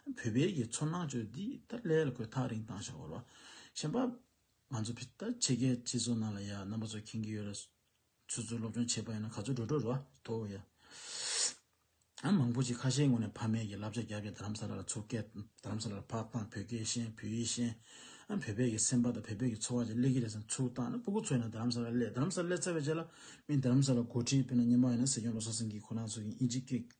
Speaker 1: བོད་པའི་གི་ཚོར་སྣང་བཅོས་འདི་ད་ལས་ལ་གོས་ཐག་རིང་བཏང་ཤག་གོ་ལ། གཞན་པ། ང་ཚོ་ཕི་ཏཱ་ཆེ་གེ་སྤྱི་ཚོགས་ནང་ལ་ཡ་རྣམ་པ་ཚོ་ཁེངས་ཀྱི་ཡོད་རེད། ཚོད་ཚོད་སློབ་སྦྱོང་བྱེད་པ་ཡིན་ན་ག་ཚོད་འགྲོ་འགྲོ་ར་ཐོ་ཡ། ཨ་མང་པོ་ཅིག་ཁ་ཤས་ངོ་ནས་ཕ་མེས་ཀྱི་བསླབ་བྱ་རྒྱབ་ཀྱི་རྡ་རམ་ས་ལ་ལ་ཚུར་བསྐྱལ། རྡ་རམ་ས་ལ་ལ་ཕག་དང་བོད་སྐད་ཤེས་བོད་ཡིག་ཤེས། ཨ་བོད་པས་ཀྱི་སེམས་པ་དང་བོད་པས་ཀྱི་འཚོ་བ་ཅིག་སླེབས་ཀྱི་རེད་བསམ་ཚུལ་བཏང་ན་སྤུ་གུ་ཚོ་ཡིན་ན་རྡ་རམ་ས་ལ་སླེབས་རྡ་རམ་ས་ལ་སླེབས་ཚར་བའི་རྗེས་ལ་མིས་རྡ་རམ་ས་ལ་འགོ་ཁྲིད་དཔེར་ན་སྙེ་མ་ཡིན་ན་སེ་སྐྱོང་ལོ་སར་སིང་གིས་ཁོ་རང་ཚོ་ཡིན་ཨིན་ཅིག་སྐད།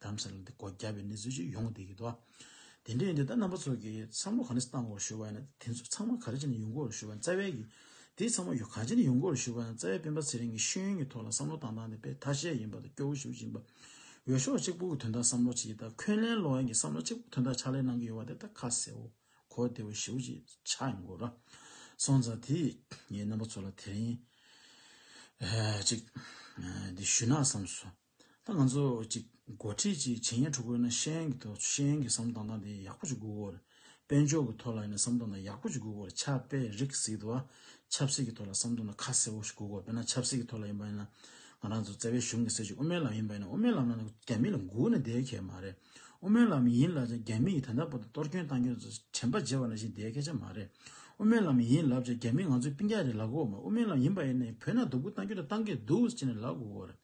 Speaker 1: གདམ་གསེས་ལ་འདི་སྒོ་རྒྱབ་པའི་གནས་ཚུལ་ཅིག་ཡོང་གི་འདུག་གིས་དོ། དེ་འདྲའི་ཡིན་དུས་ད་རྣམ་པ་ཚོ་གིས་བསམ་བློ་ག་ནས་བཏང་དགོས་ཞུས་པ་ཡིན་ན་དེ་ཚོ་ཚང་མ་ག་རེ་བྱས་ནས་ཡོང་དགོས་ཞུས་པ་ཡིན་རྩ་བའི་གི་དེ་ཚང་མ་ཡོ་ག་བྱས་ནས་ཡོང་དགོས་ཞུས་པ་ཡིན་རྩ་བའི་སྤེན་པ་ཚེ་རིང་གི་ཤེས་ཡོན་གྱི་ཐོག་ལ་བསམ་བློ་བཏང་སྟངས་དེ་དཔེ་ཐ་ཤལ་ཡིན་པ་དང་སྐྱོ་བོ་ཞིག་ཡིན་པ། འོས་ཤོག་གཅིག་པུ་གི་དོན་དག་བསམ་བློ་བྱེད་ཀྱི་དང་འཁོན་ལན་སློག་ཡན་གྱི་བསམ་བློ་གཅིག་པུ་དོན་དག་ཕྱག་ལས་གནང་གི་ཡོད་པ་དེ་ད་ཁ་གསལ་བོ་གོ་བདེ་བོ་ཞིག་བྱས་ཆགས་ཡོང་དགོས་ར་སོང་ཙང་དེ་ངའི་རྣམ་པ་ཚོ་ལ་དེ་རིང་ཅིག་འདི་ཞུས་ན་བསམ་སོང། ད་ང་ཚོ་གཅིག་མགོ་ཁྲིད་ཀྱིས་བྱས་ཉེས་དྲུག་བཀོད་ན་ཤེས་ཡོན་གྱི་ཐོག་ཤེས་ཡོན་གྱི་བསམ་སྟངས་དང་དེ་ཡག་པོ་ཅིག་དགོས་དགོས། དཔལ་འབྱོར་གྱི་ཐོག་ལ་ཡིན་ན་བསམ་སྟངས་དང་ཡག་པོ་ཅིག་དགོས་དགོས། ཆབ་དཔལ་རིག་གཟིགས་དུ་བ་ཆབ་སྲིད་ཀྱི་ཐོག་ལ་བསམ་སྟངས་དང་ཁ་གསལ་བོ་ཞིག་དགོས་དགོས་དཔེར་ན་ཆབ་སྲིད་ཀྱི་ཐོག་ལ་ཡིན་པ་ཡིན་ན། ང་རང་ཚོ་བཙལ་བའི་གཞུང་གི་སྲིད་བྱུས་དབུ་མའི་ལམ་ཡིན་པ་ཡིན་ན་དབུ་མའི་ལམ་ལ་རྒྱ་མི་ལ་མགུ་ནས་བསྡད་ཁེ་མ་རེད། དབུ་མའི་ལམ་ཡིན་ལབ་ཀྱང་རྒྱ་མི་ཡིས་ད་ལྟ་བར་དུ་གཏོར་སྐྱོན་བཏང་སྐྱོན་དྲན་པ་བརྗེད་པ་ནང་བཞིན་བསྡད་ཁེ་ཆ་མ་རེད། དབུ་མའི་ལམ་ཡིན་ལབ་ཀྱང་རྒྱ་མི་ང་ཚོའི་པིང་ཀ་རེད་ལབ་དགོས་མ་དབུ་མའི་ལམ་ཡིན་པ་ཡིན་ན་ཡང་བོད་ནང་དོ་ཁུར་བཏང་སྐྱོན་དང་བཏང་གི་འདུག་ཅེས་ནས་ལབ་དགོས་རེད།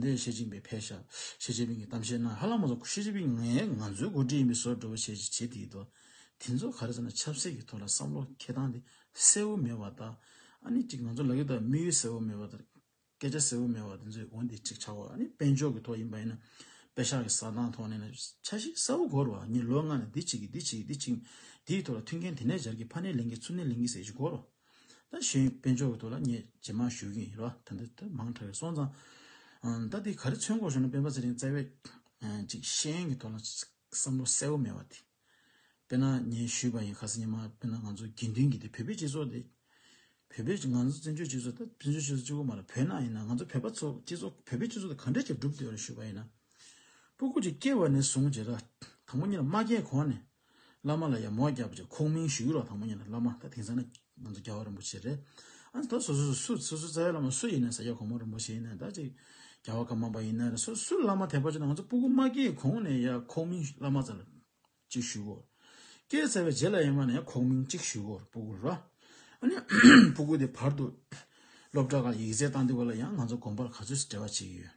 Speaker 1: འདིར་ཞི་ཅིན་ཕིང་ཕེ་ཞབས་ཞི་ཅིན་ཕིང་གི་གཏམ་བཤད་ནང་ཧ་ལམ་མ་ཚོགས་ཞི་ཅིན་ཕིང་ངས་ང་ཚོའི་འགོ་ཁྲིད་ཡིན་པའི་བཟོ་བསྒྲུབ་བྱས་ཅི་བྱས་དེ་ཡིན་འདུག་དེ་ཚོ་ག་རེ་ཟེར་ན་ཆབ་སྲིད་ཀྱི་ཐོག་ལ་བསམ་བློ་འཁྱེར་སྟངས་དེ་གསལ་བོ་མེད་བ་དང་ཨ་ནི་གཅིག་ང་ཚོ་ལག་གི་དང་དམིགས་ཡུལ་གསལ་བོ་མེད་བ་དང་སྐད་ཆ་གསལ་བོ་མེད་བ་དེ་ཚོའི་འོན་ཏེ་གཅིག་ཆགས་བ་ཨ་ནི་དཔལ་འབྱོར་གྱི་ཐོག་ཡིན་པ་ཡིན་ན་དཔེ་ཤག་གི་བཟའ་ཐང་ཐོག་ནས་ན་ཆ་ཞིག་གསལ་བོ་གོ་རོ་ཨ་ནི་ལོ་ལྔ་ནས་འདི་བྱེད་གི་འདི་བྱེད་གི་འདི་བྱེད་གི་དེའི་ཐོག་ལ་མཐུན་རྐྱེན་དེ་ནས་སྦྱར་གི་ཕ་ནས་ལེན་གི་ཚུར་ནས་ལེན་གི་ཟེར་གྱི་གོ་རོ། ད་གཞོན་དཔོན་ཕྱོགས་ཀྱི་ཐོག་ལ་ངས་ཇེ་མང་ཞུ་གིན་ཡིན་རེད་བ་ད་འདི་ལྟར་མང་དྲགས་ཡོད་སོང་ཙང། ད་འདི་ག་རེ་ཚོད་འགོག་ཞུ་ན་དཔོན་པ་ཚེ་རིང་རྩེ་བས་ཅིག་ཤེས་ཡོན་གྱི་ཐོག་ལ་བསམ་བློ་གསལ་བོ་མེད་བ་དེ། དཔེར་ན་ངས་ཞུས་པ་ཡིན་ཁ་སང་ཉི་མ་དཔེར་ན་ང་ཚོ་དགེ་འདུན་གྱི་དེ་བོད་པའི་སྤྱི་ཚོགས་དེ། བོད་པའི་ང་ཚོ་བཙན་བྱོལ་སྤྱི་ཚོགས་ད་བཙན་བྱོལ་སྤྱི་ཚོགས་གཅིག་པོ་མ་རེད་བོད་ནང་ཡིན་ན་ང་ཚོ་བོད་པ་ཚོ་སྤྱི་ཚོགས་བོད་པའི་སྤྱི་ཚོགས་དེ་ག་འདྲ་ཅིག་བསྒྲུབ་འདོད་རེད་ཞུས་པ་ཡིན་ན། སྤུ་གུ་ཅིག་སྐྱེས་བ་ནས་བཟུང་རྗེས་དྲགས་དང་པོ་གཉིས་ལ་མ་སྐྱེས་གོང་ནས་བླ་མ་ལ་ཡང་མོ་རྒྱབ་ཅིག་ཁོང་མིང་ཞུ་རོགས་དང་པོ་ཉིད་ནས་བླ་མ་ད་དེང་སང་ན་ང་ཚོ་རྒྱལ་བ་རིན་པོ་ཆེ་རེད་ཨ་ད་སོ་སོ་སུ་སོ་སོ་རྩ་བའི་བླ་མ་སུ་ཡིན་ནས་ས་སྐྱ་གོང་མ་རིན་པོ་ཆེ་ཡིན་ནས་ད་ཅིག་རྒྱལ་བ་ཀརྨ་པ་ཡིན་ནས་རེད་སོ་སུ་བླ་མ་དད་པ་བྱོས་ན་ང་ཚོ་སྤུ་གུ་མ་སྐྱེས་གོང་ནས་ཡང་ཁོང་མིང་བླ་མ་རྩ་ལ་ཅིག་ཞུ་གོ་སྐྱེས་ཚར་བའི་རྗེས་ལ་ཡང་མ་ནས་ཡང་ཁོང་མིང་ཅིག་ཞུ་གོ་སྤུ་གུ་ར་ཨ་ནི་སྤུ་གུ་དེ་བར་དུ་སློབ་གྲྭ་ཁག་ཡིག་རྩལ་བཏང་འདི་བ་ལ་ཡང་ང་ཚོ་དགོན་པར་ག་ཚོད་འབྲེལ་བ་བྱེད་ཀྱི་ཡོད།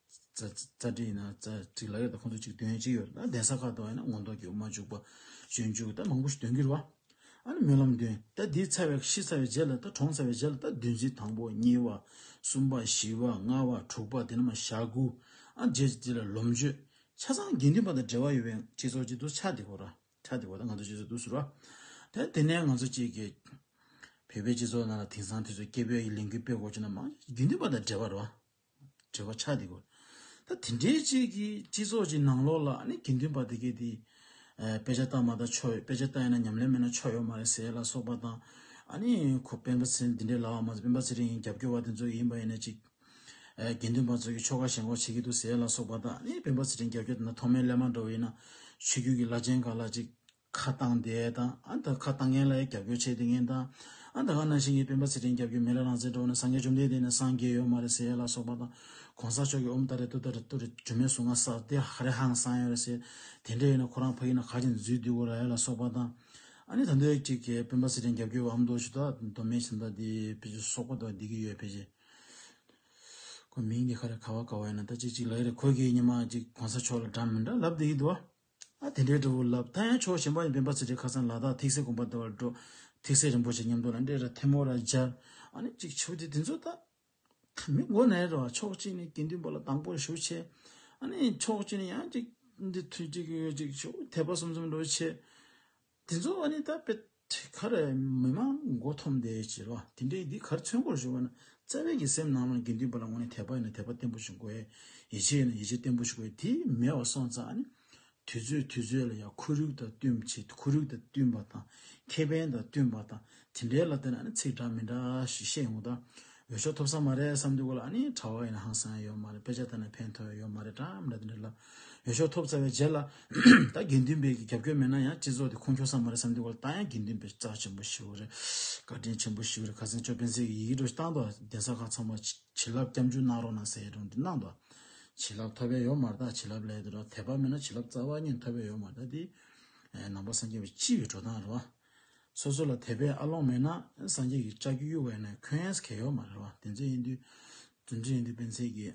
Speaker 1: རྩ་བྲིས་ན་རྩ་བྲིས་ལ་ཡོད་ཁོ་ཚོ་གཅིག་འདོན་གཅིག་ཡོད་ན་གདན་ས་ཁག་ཏུ་ཡོད་ན་ངོ་མདོག་གི་འོ་མ་བྱུག་པ་གཞོན་བྱུག་ད་མང་པོ་ཞིག་འདོན་གྱི་རུ་བ་ཨ་ནི་སྨོན་ལམ་འདོན་ད་དེའི་ཚ་བའི་ཤི་ཚ་བའི་རྗེས་ལ་ད་གྲོངས་ཚ་བའི་རྗེས་ལ་ད་བདུན་རྩི་དང་པོ་གཉིས་བ་གསུམ་པ་བཞི་བ་ལྔ་བ་དྲུག་པ་དེ་ནི་མ་ཞག་དགུ་ཨ་རྗེས་ཀྱི་དེ་ལ་ལོམ་བཅོས་ཆ་ཚང་དགེ་འདུན་པ་དང་འབྲེལ་བ་ཡོད་པའི་སྤྱི་ཚོགས་ཅིག་ཏུ་ཆགས་འདི་གོ་ར་ཆགས་འདི་གོ་ད་ང་ཚོ་སྤྱི་ཚོགས་ཏུ་ཟུར་བ་དེ་དེ་ནས་ང་ཚོ་གཅིག་གི་བོད་པའི་སྤྱི་ཚོགས་ནང་ལ་དེང་སང་དུས་ཚོད་སྐྱེ་བོའི་ལས་འགུལ་སྤེལ་དགོས་ཅེ་ན་མང་དགེ་འདུན་པ་དང་འབྲེལ་བ་རུ་བ། བྲེལ་བ་ཆགས་འདི་གོ། ད་དེ་འདྲའི་ཅིག་གིས་སྤྱི་ཚོགས་ཀྱི་ནང་ལོགས་ལ་ནི་དགེ་འདུན་པ་དེ་གས་དེ། དཔེ་ཆ་བལྟ་མ་བལྟ་ཆོ་ཡོད་དཔེ་ཆ་བལྟ་ཡོད་ན་ཉམས་ལེན་མེད་ན་ཆོ་ཡོད་མ་རེད་ཟེར་ལ་སོགས་པ་དང། ཨ་ནི་ཁོ་སྤེན་པ་ཚེ་འདི་འདྲའི་ལགས་མ་ཚེ་སྤེན་པ་ཚེ་རིང་ཡིན་རྒྱབ་སྐྱོར་བ་དེ་ཚོ་ཡིན་པ་ཡིན་ན་ཅིག། དགེ་འདུན་པ་ཚོ་གིས་ཆོ་ག་ཞེན་ཁོག་བྱེད་ཀྱི་འདུག་ཟེར་ལ་སོགས་པ་དང་ཨ་ནི་སྤེན་པ་ཚེ་རིང་རྒྱབ་སྐྱོར་དེ་འདྲ་མཐོ་དམན་ལས་མ་འགྲོ་བ་ཡིན་ན་ཆོས་རྒྱུད་ཀྱི་བླ་ཆེན་ག་ལ་ཅིག་ཁ་བཏང་དེ་དང་ཨ་ད་ཁ་བཏང་མཁན་ལ་ཡང་རྒྱབ་སྐྱོར་བྱས་དུས་ངན་དང། ཨ་ད་ང་ནང་བཞིན་གྱི་སྤེན་པ་ཚེ་རིང་རྒྱབ་སྐྱོར་མེད་ལ་རང་བཙན་དྲོ་བ་ནས་སངས་རྒྱས་བཅོམ་ལྡན་འདས་ནས་སངས་རྒྱས་ཡོད་མ་རེད་ཟེར་ལ་སོགས་པ་དང། གོང་ས་མཆོག་གིས་ཨོ་མི་ད་རེ་ཏུ་ད་རེ་ཏུ་རེ་གྲུ་མེད་ཟུག་ང་ས་དེ་ཧ་རེ་ཧང་སང་ཡོད་རེད་ཟེར། དེ་འདྲས་ཡོད་ན་ཁོ་རང་ཕ་ཡིན་ན་ག་ཅིག་འཛུལ་བསྡུས་དགོས་ར་ཡོད་ལ་སོགས་པ་དང། ཨ་ནི་ད་འདོད་གཅིག་གིས་སྤེན་པ་ཚེ་རིང་རྒྱབ་སྐྱོར་བ་ཨ་མདོ་ཞུ་དག་མདོ་སྨད་ཕྱི་མདོ་འདི་ཕེ་ཆུ་སོགས་པ་དང་འདི་གི་ཡོད་ཕེ་ཆེ། ཁོ་མིང་འདི་ཧ་རེ་ག་བ་ག་བ་ཡིན་ན་ད་ཅིག་ཅིག་ལ་ཡོད་རེད་ཁོ་གིས་ཉི་མ་གཅིག་གོང་ས་མཆོག་ལ་འདྲ་མི་འདྲ་ལབ་དེ་ཡིད་དུ་བ། དེ་འདྲའི་འབྲས་བུ་ལབ། ད་ཡང་ཕྱོགས་གཞན་པ་ཡི་བེམ་པ་ཚུལ་ཁྲིམས་ཁ་སང་ལ་དྭགས་ཐིག་སེ་དགོན་པ་ཟླ་བར་འགྲོ། ཐིག་སེ་རིན་པོ་ཆེ་ཉམས་རྟོགས་ལ་འདྲེས་ར་ཐེམ་བོ་ར་སྦྱར། ཨ་ནི་ཅིག་བྱོས་དེ་དེ་ཚོ་ད། མི་མགོ་ནས་རེད་བ་ཕྱོགས་གཅིག་ནས་དགེ་འདུན་པ་ལ་དང་པོར་ཞུ་ཆེ། ཨ་ནི་ཕྱོགས་གཅིག་ནས་ཡང་ཅིག་འདི་ཐུགས་ཅིག་ཡོད་ཅིག་ཆོག་དད་པ་གསུམ་གསུམ་འགྲོ་ཆེ། དེ་ཚོ་ཨ་ནི་ད་དཔེ། དེ་གར་མི་དམངས་མགོ་འཐོམ་དེ་བྱེད་པ་དེ་འདྲའི་འདི་གར་ཚོན་སྐོར་ཞུ་བ་ན་རྩ་བའི་གི་སེམས་ནང་ལ་དགེ་འདུན་པ་ལ་ངོ་ནས་དད་པ་ཡོད་ན་དད་པ་བརྟན་པོ་ཞིག་དགོས། ཡིད་ཆེས་ཡོད་ན་ཡིད་ཆེས་བརྟན་པོ་ཞིག་དགོས་དེ་མེད་བ་སོང་ཙང་ནི་དུས་ཚོད་དུས་ཚོད་ལ་ཡང་ཁོར་ཡུག་དང་བསྟུན་བྱེད་ཁོར་ཡུག་དང་བསྟུན་པ་དང་ཁེ་ཕན་དང་བསྟུན་པ་དང་དེ་འདྲའི་ལ་བལྟས་ན་ནི་ཚིག་འདྲ་མི་འདྲ་ཞིག་བཤད་ཡོང་དང་འོས་ཤོག་ཐོབ་ས་མ་རེད་བསམ་འདུག་གོ་ལགས་ནི་གྲྭ་བ་ཡིན་ན་ཧང་སང་ཡོད་མ་རེད་དཔེ་ཆ་ལྟ་ན་ཕན་ཐོག་ཡོད་མ་རེད་གྲྭ་མི་རེད་འདི་འདྲ་ལབ་འོས་ཤོག་ཐོབ་ཚར་བའི་རྗེས་ལ་ད་དགེ་འདུན་པའི་གི་རྒྱབ་སྐྱོར་མེད་ན་ཡང་སྤྱི་ཚོགས་དེ་ཁུངས་འཁྱོལ་ས་མ་རེད་བསམ་འདུག་གོ་ལགས་ད་ཡང་དགེ་འདུན་པའི་རྩ་ཆེན་པོ་ཞིག་རེད་བཀའ་དྲིན་ཆེན་པོ་ཞིག་རེད་ཁ་སང་ཅོ་སྤེན་ཚེ་གི་ཡི་གེ་འགྲོ་ཞིག་བཏང་འདུག་གདན་ས་ཁག་ཚང་མ་བྱིན་རླབས་སྐྱབས་འཇུག་གནང་རོགས་གནང་ཟེར་ཡས་དྲུང་དེ་གནང་འདུག་བྱིན་རླབས་ཐོབ་པས་ཡོད་མ་རེད་ད་བྱིན་རླབས་ལས་དེ་འདྲ་དད་པ་མེད་ན་བྱིན་རླབས་རྩ་བ་ཉིད་ཐོབ་པས་ཡོད་མ་རེད་ད་དེ་ནང་པ་སངས་རྒྱས་པའི་སྤྱི་བའི་འགྲོ་སྟངས་རེད་བ། སོ་སོ་ལ་དད་པའི་ཨ་ལོང་མེད་ན་སངས་རྒྱས་ཀྱི་ལྕགས་ཀྱུ་གཡུག་བས་ན་ཁྱོད་ཨེས་གལ་ཡོད་མ་རེད་བ་དེ་ཚོ་ཨིན་དུས་རྫུན་རྩི་ཨིན་དུས་སྤེན་ཚེ་ཀྱི་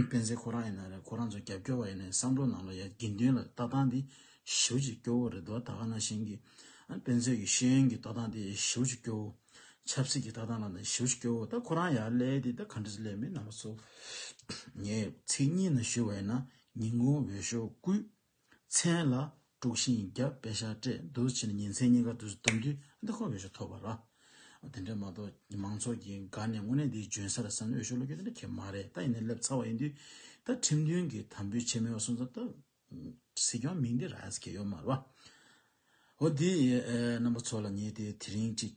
Speaker 1: སྤེན་ཚེ་ཁོ་རང་ཡིན་ན་རེད་ཁོ་རང་ཚོ་རྒྱབ་སྐྱོར་བ་ཡིན་ནའི་བསམ་བློ་ནང་ལ་ཡ་དགེ་འདུན་ལ་ལྟ་སྟངས་དེ་ཞེའུ་ཅིག་སྐྱོ་བོ་རེད་བ་ད་ག་ན་བཞིན་གྱི་སྤེན་ཚེ་ཀྱི་ཤེས་ཡོན་གྱི་ལྟ་སྟངས་དེ་ཞེའུ་ཅིག་སྐྱོ་བོ་ཆབ་སྲིད་ཀྱི་ལྟ་སྟངས་ལ་ནི་ཞེའུ་ཅིག་སྐྱོ་བོ་ད་ཁོ་རང་ཡར་ཀླད་དེ་ད་ག་འདྲ་ཟེ་ཀླད་མེད་ནང་པ་ཚོ་ངས་ཚིག་གཉིས་ནང་ཞུ་བས་ན་ཉིན་གུང་འོས་ཤོག་བསྐུས། མཚན་ལ་དཀྲུགས་ཤིང་རྒྱབ་དཔེ་ཤ་སྤྲད་བསྡུར་བྱས་ནས་ཉིན་མཚན་གཉིས་ཀ་དུས་སུ་དམ་འདུས་ཨ་མདོ་ཁོ་བོས་ཤོག་ཐོབ་པ་རེད། དེ་འདྲ་མ་གཏོགས་མང་ཚོགས་ཀྱིས་དགའ་ནས་དངོས་གནས་འདིའི་འཇོན་ས་རེད་བསམ་ནས་འོས་ཤོག་བླུག་རྒྱུ་དེ་འདྲ་ཁྱད་མ་རེད་ད་ཡིན་ནའི་སླེབས་ཚར་བ་ཡིན་དུས་ད་ཁྲིམས་མཐུན་གྱི་དམ་འབུལ་བྱས་མེད་པ་སོང་ཚར་སྟབས། སྲིད་སྐྱོང་མིང་འདི་རགས་གལ་ཡོད་མ་རེད། འོ་དེ་ཡིན་ན་རྣམ་པ་ཚོ་ལ་ངས་དེ་དེ་རིང་གཅིག།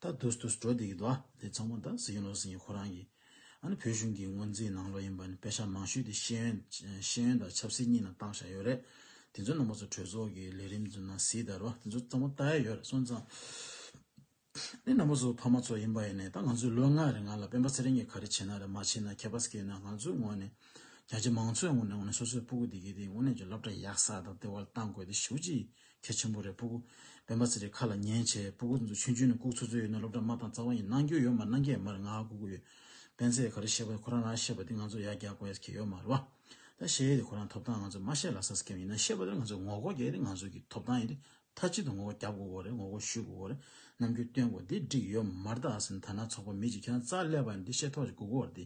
Speaker 1: ད་དུས་དུས་སུ་གྲོ་དེ་གི་རྡོ་དེ་ཚང་མ་དང་ཟི་ཡོན་ལོ་སི་ཡིན་ཁོ་རང་གི་ཨ་ནི་བོད་གཞུང་གི་སྔོན་རྩིས་ནང་ལོ་ཡིན་པ་ནི་དཔེ་ཆ་མང་ཤོས་དེ་ཤེས་ཡོན་ཤེས་ཡོན་དང་ཆབ་སྲིད་གཉིས་ནང་བཏང་བཞག་ཡོད་རེད་དེ་ཚོའི་ནང་པ་ཚོ་གྲོས་ཚོགས་ཀྱི་ལས་རིམ་ཚོ་ནང་ཟི་དར་བ་དེ་ཚོ་ཚང་མ་བལྟ་ཡས་ཡོད་རེད་སོང་ཙང་ཨནི་ནང་པ་ཚོ་ཕ་མ་ཚོ་ཡིན་པ་ཡིན་ནས་ད་ང་ཚོས་ལོ་ལྔ་རེ་ང་ལ་སྤེན་པ་ཚེ་རིང་གི་ག་རེ་བྱེད་ན་རེད་མ་བྱེད་ན་ཁྱད་པ་ཟ་གི་ཡོད་ན་ང་ཚོའི་ངོ་ནས་རྒྱ་ཆེ་མང་ཚོའི་ངོ་ནས་ངོ་ནས་སོ་སོའི་སྤུ་གུ་དེ་གི་དེ་ངོ་ནས་ཀྱི་སློབ་གྲྭ་ཡག་ས་དང་དེ་བ་ལ་བཏང་དགོས་དེ་ཞུ་གཅིག་ཁྱེད་ཆེན་པོ་རེད་སྤུ་གུ། སྤེན་པ་ཚེ་རིང་ཁ་ལ་ཉན་བྱས་སྤུ་གུ་འདུག་ཆུང་ཆུང་ནས་ལྐུག་ཚོད་ཚོད་ཡོད་ན་སློབ་གྲྭ་མ་དང་རྩ་བ་ཡིན་ནང་རྒྱུ་ཡོད་མ་ནང་རྒྱ་ཡིན་མ་རེད་ང་ལྐུག་གུ་ཡོད། སྤེན་ཚེས་ག་རེ་བཤད་པ་ཁོ་རང་རང་ཤེས་པ་དེ་ང་ཚོ་ཡར་རྒྱག་དགོས་ཡས་ཁྱེད་ཡོད་མ་རེད་བ། ད་བཤད་ཡས་དེ་ཁོ་རང་ཐོབ་ཐང་ང་ཚོས་མ་ཤེས་ལ་ས་སྐེམ་ཡིན་ན་ཤེས་པ་དེར་ང་ཚོས་ངོ་རྒོལ་རྒྱག་ཡས་དེ་ང་ཚོས་ཀྱི་ཐོབ་ཐང་ཡིན་དེ་མཐའ་གཅིག་ཏུ་ངོ་རྒོལ་རྒྱབ་དགོས་དགོས་རེད་ངོ་རྒོལ་ཞུས་དགོས་དགོས་རེད་ནམ་རྒྱུན་སྟོན་དགོས་དེ་འགྲིག་ཡོད་མ་རེད་ད་ཨ་ཟེར་ན་ད་ནང་ཚོགས་པ་མི་གཅིག་ཁྱེད་རང་རྩ་ཀླད་པ་ཡིན་དེ་ཤེས་ཐོག་ཅིག་གུ་གུ་བར་དེ་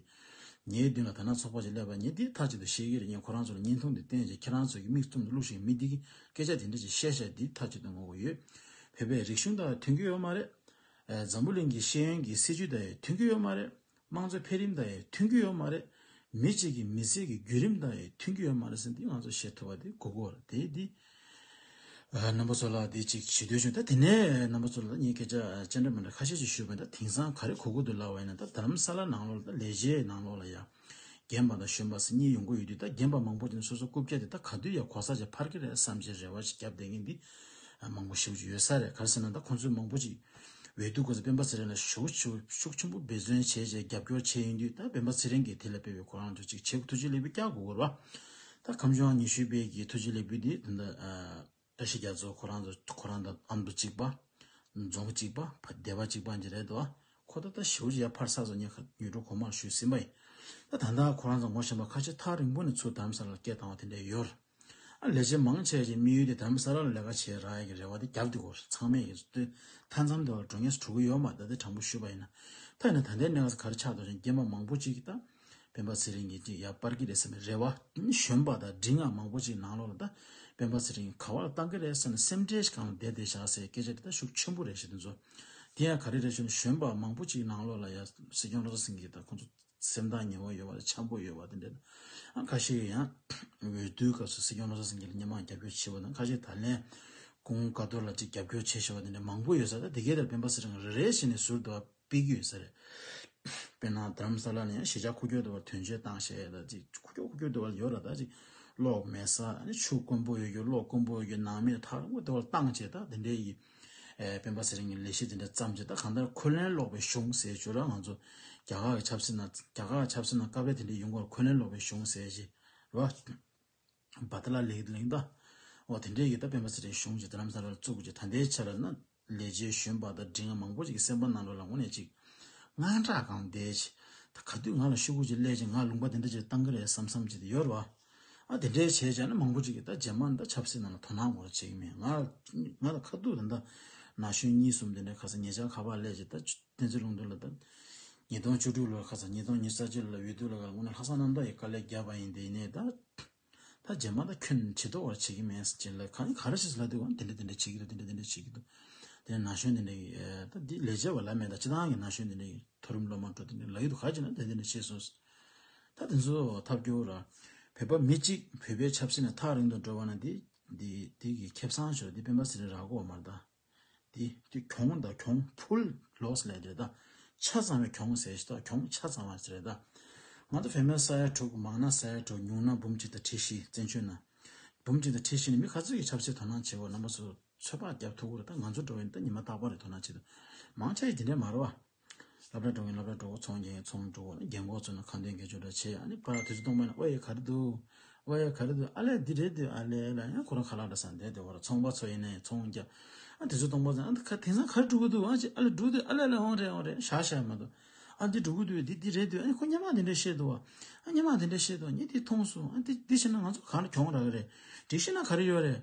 Speaker 1: ངའི་མདུན་ལ་ཐ་ན་ཚོགས་པ་ཞིག་སླེབས་པ་ངས་འདི་མཐའ་གཅིག་ཏུ་ཤེས་ཀྱི་རེད་ངས་ཁོ་རང་ཚོ་ལ་བརྙན་ཐུང་དེ་བསྟན་རྗེས་ཁྱེད་རང་ཚོ་གི་མིག་ཙུམ་དུ་བླུགས་ཤིང་མི་འདི་གིས་སྐད་ཆ་དེ་འདྲ་ཞིག་བཤད་ཤག་འདི་མཐའ་གཅིག་ཏུ་ངོ་བོ་ཡོད་བོད་པའི་རིག་གཞུང་དག་མཐུན་གྱི་ཡོད་མ་རེད། འཛམ་བུ་གླིང་གི་ཤེས་ཡོན་གྱི་སྲིད་ཇུས་དག་ཡི་མཐུན་གྱི་ཡོད་མ་རེད། དམངས་གཙོའི་འཕེལ་རིམ་དག་ཡི་མཐུན་གྱི་ཡོད་མ་རེད། མི་གཅིག་གི་མི་ཚེ་གི་བརྒྱུད་རིམ་དག་ཡི་མཐུན་གྱི་ཡོད་མ་རེད་ཟེར་འདི་ང་ཚོ་ཤེས་ཐུབ་པ་དེ་གུ་གུ་བར་དེའི་འདི། རྣམ་པ་ཚོ་ལ་དེ་གཅིག་བྱེད་འདོད་བྱུང་ད་དེ་ནས་རྣམ་པ་ཚོ་ལ་གཉིས་སྐད་ཆ་སྤྱན་འདྲ་མི་འདྲ་ཁ་ཤས་ཅིག་ཞུས་པ་ད་དེང་སང་ག་རེ་གོ་གི་འདུག་ལབ་བས་ན་ད་དྷརམ་ས་ལ་ནང་ལོགས་ལ་ད་ལས་བྱེད་ནང་ལོགས་ལ་ཡ། རྒན་པ་དང་གཞོན་པ་སེ་གཉིས་ཡོང་གི་ཡོད་དུས་ད་རྒན་པ་མང་པོ་དེ་ནས་སོ་སོ་རྐུབ་བཀྱག་དེ་ད་ག་དུས་ཡ་གོ་ས་ཅིག་འཕར་གི་རེད་བསམ་གྱི་རེ་བ་ཅིག་བརྒྱབ་བསྡད་མཁན་དེ་མང་པོ་ཞིག་བྱུང་ཡོད་ས་རེད་ག་རེ་ཟེར་ན་ད་ཁོང་ཚོས་མང་པོ་ཅིག་འོས་བསྡུ་དགོས་ས་སྤེན་པ་ཚེ་རིང་ལ་ཞུགས་ཤུགས་ཆེན་པོ་འབད་བརྩོན་བྱས་བྱས་རྒྱབ་སྐྱོར་བྱས་ཡིན་དུས་ད་སྤེན་པ་ཚེ་རིང་གིས་དེ་ལ་སྤེལ་བའི་གོ་རང་ཅུག་ཅིག་བྱེད་དགོས་ཐུགས་རྗེ་ལེགས་པོ་བསྐྱག་དགོས་གོ་རེ་བ། ད་ཁམས་གཞུང་ཉི་ཤུའི་དཔལ་གྱི་ཐུགས་རྗེ་ལེགས་འབུལ་འདི་དེ་འདྲ། བཀྲ་ཤིས་རྒྱ་མཚོ་ཁོ་རང་ཚོ་ཁོ་རང་དང་ཨམ་བུ་གཅིག་པ། རྫོང་གཅིག་པ་སྡེ་བ་གཅིག་པ་འདྲ་རེད་དོ། ཁོ་ད་ལྟ་ཞེའུ་ཅི་ཡ་ཕར་ས་ཚོ་ཉེ་ཁ་ཉོས་འགྲོ་གོང་མར་བཞུད་ཟིན་པ་ཡིན། ད་ད་ལྟ་ཁོ་རང་ཚོ་ངོ་ཤེས་པ་ཁ་ཆེ་ཐག་རིང་པོ་ནས་ཚུར་དམ་ས་ལར་སྐད་བཏང་བ་དེ་འདྲས་ཡོད། ཨ་ལས་བྱེད་མང་ཆེ་བ་ཞིག་དམིགས་ཡུལ་དེ་དམ་ས་ལར་ལས་ཀ་བྱེད་རག་ཡ་གི་རེ་བ་དེ་རྒྱབ་དུ་གོ་ཚང་མས་ཡིན། ལྟོས་མཐའ་མཚམས་དེ་བར་གྲོ་ངས་གྲུ་གུ་ཡོད་མ་ད་དེ་དྲང་པོ་ཞུས་པ་ཡིན་ན། ཐ་ན་ད་ལྟའི་གནས་སྐབས་གར་ཆགས་འགྲོ་ཞིང་རྐྱེན་པ་མང་པོ་ཅིག་གིས་ད། སྤེན་པ་ཚེ་རིང་གིས་ཀྱི་ཡག་པར་གི་རེད་བསམ་པའི་རེ་བ། གཞོན་པ་དང་འབྲི་ངག་མང་པོ་ཅིག་ནང་ལོག་ལ་ད་སྤེན་པ་ཚེ་རིང་ག་བ་ལ་བཏང་གི་རེད་བསམ་ནས་སེམས་ཁྲལ་གང་བདེ་བདེ་བཞག་སའི་སྐད་ཆ་དེ་ད་ཤུགས་ཆེན་པོ་རེད་ཞེ་དོན་ཚོ། དེ་ཡང་ག་རེ་རེད་ཞུ་ན་གཞོན་པ་མང་པོ་ཅིག་ནང་ལོག་ལ་ཡ་སྲིད་སྐྱོང་ལགས་སེང་གི་ད་ཁོང་ཚོ་སེམས་ཐག་ཉེ་བ་ཡོད་བ་རེད་འཆམ་པོ་ཡོད་བ་དེ་འདྲ་ད་ཨང་ཁ་ཤས་ཡོད་ཡང་འོས་བསྡུའི་སྐབས་སུ་སྲིད་སྐྱོང་ལགས་སེང་གི་ལ་སྙན་མང་རྒྱབ་སྐྱོར་བྱས་བ་དང་ཁ་ཤས་ད་ལན་ཀུང་དཀའ་ཐོར་ལ་ཅིག་རྒྱབ་སྐྱོར་བྱས་ཞེས་བ་དེ་འདྲ་མང་པོ་ཡོད་ས་ད་དེ་གའི་ལྟར་སྤེན་པ་ཚེ་རིང་རེ་རེ་བྱས་ནས་ཟུར་དུ་བ། སྤེལ་རྒྱུ་ཡིན་ཟེར། དཔེར་ན་དྷརམ་ས་ལ་ནས་གཞིས་ཆགས་འཁོར་སྐྱོད་འདུ་བར་དོན་གཅོད་བཏང་ཞེས་དང་ཅིག་འཁོར་སྐྱོད་འཁོར་སྐྱོད་འདུ་བ་ལ་ཡོད་ར་དང་ཅིག་གློག་མེད་ས་ཆུ་དཀོན་པོ་ཡོད་རྒྱུ་གློག་དཀོན་པོ་ཡོད་རྒྱུ་ནང་མི་དར་མོ་འདུ་བར་བཏང་ཅེས་དང་དེ་འདྲའི་ཡི། སྤེན་པ་ཚེ་རིང་གིས་ལས་གཞི་དེ་འདྲ་བརྩམས་རྗེས་ད་གང་ལྟར་འཁོན་ལན་སློག་པའི་གཞུང་ཟེར་བྱུང་ར་ང་ཚོ་རྒྱ་གར་གྱི་ཆབ་སྲིད་ནང་རྒྱ་གར་གྱི་ཆབ་སྲིད་ནང་སྐབས་རེ་དེ་འདྲའི་ཡུལ་འགོར་འཁོན་ལན་སློག་པའི་གཞུང་ཟེར་གྱི་ར། བ་དེ་ལ་ལེགས་ལེགས་འདའ། འོ་དེ་འདྲའི་ཡོད་ད་པད་མ་ཚེ་རིང་གཞུང་གཅིག་དེ་རམ་ས་རར་བཙུགས་ཀྱི་ད་ལྟའི་ཆ་ལ་ན་ལས་བྱེད་གཞོན་པ་དང་འབྲིང་ང་མང་པོ་ཅིག་གི་སེམས་པ་ནང་ལོག་ལ་ངོ་ནས་ཅིག་དངངས་སྐྲག་གང་བསྡད། ད་ག་དུས་ང་ལ་ཤོག་བུ་ཅིག་གླས་ཅིག་ང་ལུང་པ་དེ་འདྲ་ཅིག་བཏང་གི་རེད་བསམ་བསམ་ཅིག་དེ་ཡོད་རེད་བ། ཨ་དེ་འདྲའི་བྱས་བྱས་ན་མང་པོ་ཅིག་གིས་ད་རྗེས་མར་ད་ཆབ་སྲིད་ནང་ལ་དོ་སྣང་གོ་རེ་བྱེད་ཀྱི་མེད་ང་ང་ད་ཁ་ཐུག་ད་ད་ན་གཞོན་གཉིས་གསུམ་དེ་འདྲ་ཁ་ས་ངེད་ཅག་ཁ་པར་གླས་ཅིག་ད་བསྟན་འཛིན་ལུང་དུ་ལ་ད་ཉིས་སྟོང་བཅུ་དྲུག་ལོར་ཁ་ས་ཉིས་སྟོང་ཉེར་གསར་བཅུ་ལ་འོས་བསྡུ་ལ་ཁ་ལ་ངོ་ནས་ལྷག་བསམ་རྣམ་དག་གིས་དཀའ་ལས་བརྒྱབ་པ་ཡིན་དེ་ནས་ད། ད་རྗེས་མ་ད་ཁྱོད་ཇི་ལྟ་བར་བྱེད་ཀྱི་མེད་ཟེར་ལ་ག་ག་རེ་བྱེད་ལ་དེ་དེ་འདྲ་དེ་འདྲ་བྱེད་ཀྱི་འདུག་དེ་འདྲ་དེ་འདྲ་བྱེད་ཀྱི་འདུག་དེ་ན་གཞོན་དེ་འདྲ་གི་ད་འདི་ལས་བྱེད་པ་ལབ་མེད་ད་ཁྱེད་རང་གི་ན་གཞོན་དེ་འདྲ་གི་མཐོ་རིམ་སློབ་མ་འགྲོ་དེ་འདྲ་ལབ་ཀྱི་འདུག་ག་བྱེད་ན་དེ་འདྲ་བྱེད་སོང་ཟེར། ད་དེ་ཚོ་ཐབས་སྐྱོ་ར། བོད་པ་མི་གཅིག་བོད་པའི་ཆབ་སྲིད་ན་ཐག་རིང་དུ་འགྲོ་བ་ན་དེ་དེ་གི་ཁེབས་སང་ཞོག་དེ་སྤེན་པ་ཟེར་ར་གོ་མ་ད། དེ་དེ་གྱོང་དང་གྱོང་ཕུལ loss ལས་རེད་ད། ཆ་ཚང་བའི་གྱོང་ཟེར་ཞིག་ད་གྱོང་ཆ་ཚང་བ་རེད་ད། ང་ཚོ་བོད་མའི་ས་ཡ་དྲུག་མང་ན་ས་ཡ་དྲུག་ཉུང་ན་འབུམ་གཅིག་དང་ཁྲི་བཞི་བཙན་བྱོལ་ན། འབུམ་གཅིག་དང་ཁྲི་བཞི་ནི་མི་ག་ཚོད་ཀྱིས་ཆབ་སྲིད་དོ་སྣང་བྱེད་དགོས་རྣམ་པ་ཚོས་ཚོད་དཔག་རྒྱབ་ཐུག་གོ་རེ་ད་ང་ཚོ་འགྲོ་བའི་ནི་ད་ཉི་མ་རྟག་པ་རེད་དོ་སྣང་བྱེད་དུ་མང་ཆ་ཡིས་དེ་འདྲའི་མ་རོ་ཨ། ལྷ་བྲག་གྲོང་གི་ལྷ་བྲག་གྲོགས་ཚོང་རྒྱལ་ཚོང་གྲོགས་ནི་རྒྱལ་འགོག་ཚོ་ནི་ཁང་ཐོན་གྱི་ཆོ་འདྲ་ཆེ་ཡ་ནི་པར་དེ་ཚོ་སྟོང་པ་ནི་ཨོ་ཡེ་ག་རེ་འདུག་ཨོ་ཡེ་ག་རེ་འདུག་ཨ་ལས་འདི་རེད་འདུག་ཨ་ལས་ལ་ཡང་ཁོ་རང་ཁ་ལག་འདྲ་ས་འདས་དེ་བར་ཚོང་པ་ཚོ་ཡིན་ནའི་ཚོང་རྒྱ་ཨ་དེ་ཚོ་སྟོང་པ་ཚོ་ཨ་ཁ་དེང་སང་ག་རེ་འགྲོ་གི་འདུག་ཨ་ཅེ་ཨ་ལས་འགྲོ་གི་འདུག་ཨ་ལས་ལ་འོང་རེད་འོང་རེད་ཤག་ཤག་མ་འདུག་ཨ་འདི་འགྲོ་གི་འདུག་འདི་འདི་རེད་འདུག་ཨ་ཁོ་སྙན་མག་འདི་འདྲ་བཤད་འདུག་ཨ་སྙན་མག་འདི་འདྲ་བཤད་འདུག་ངས་འདི་མཐོང་སོང་ཨ་འདི་འདི་བྱས་ན་ང་ཚོ་གང་ལ་གྱོང་རག་གི་རེད་འདི་བཤད་ན་ག་རེ་ཡོད་རེད།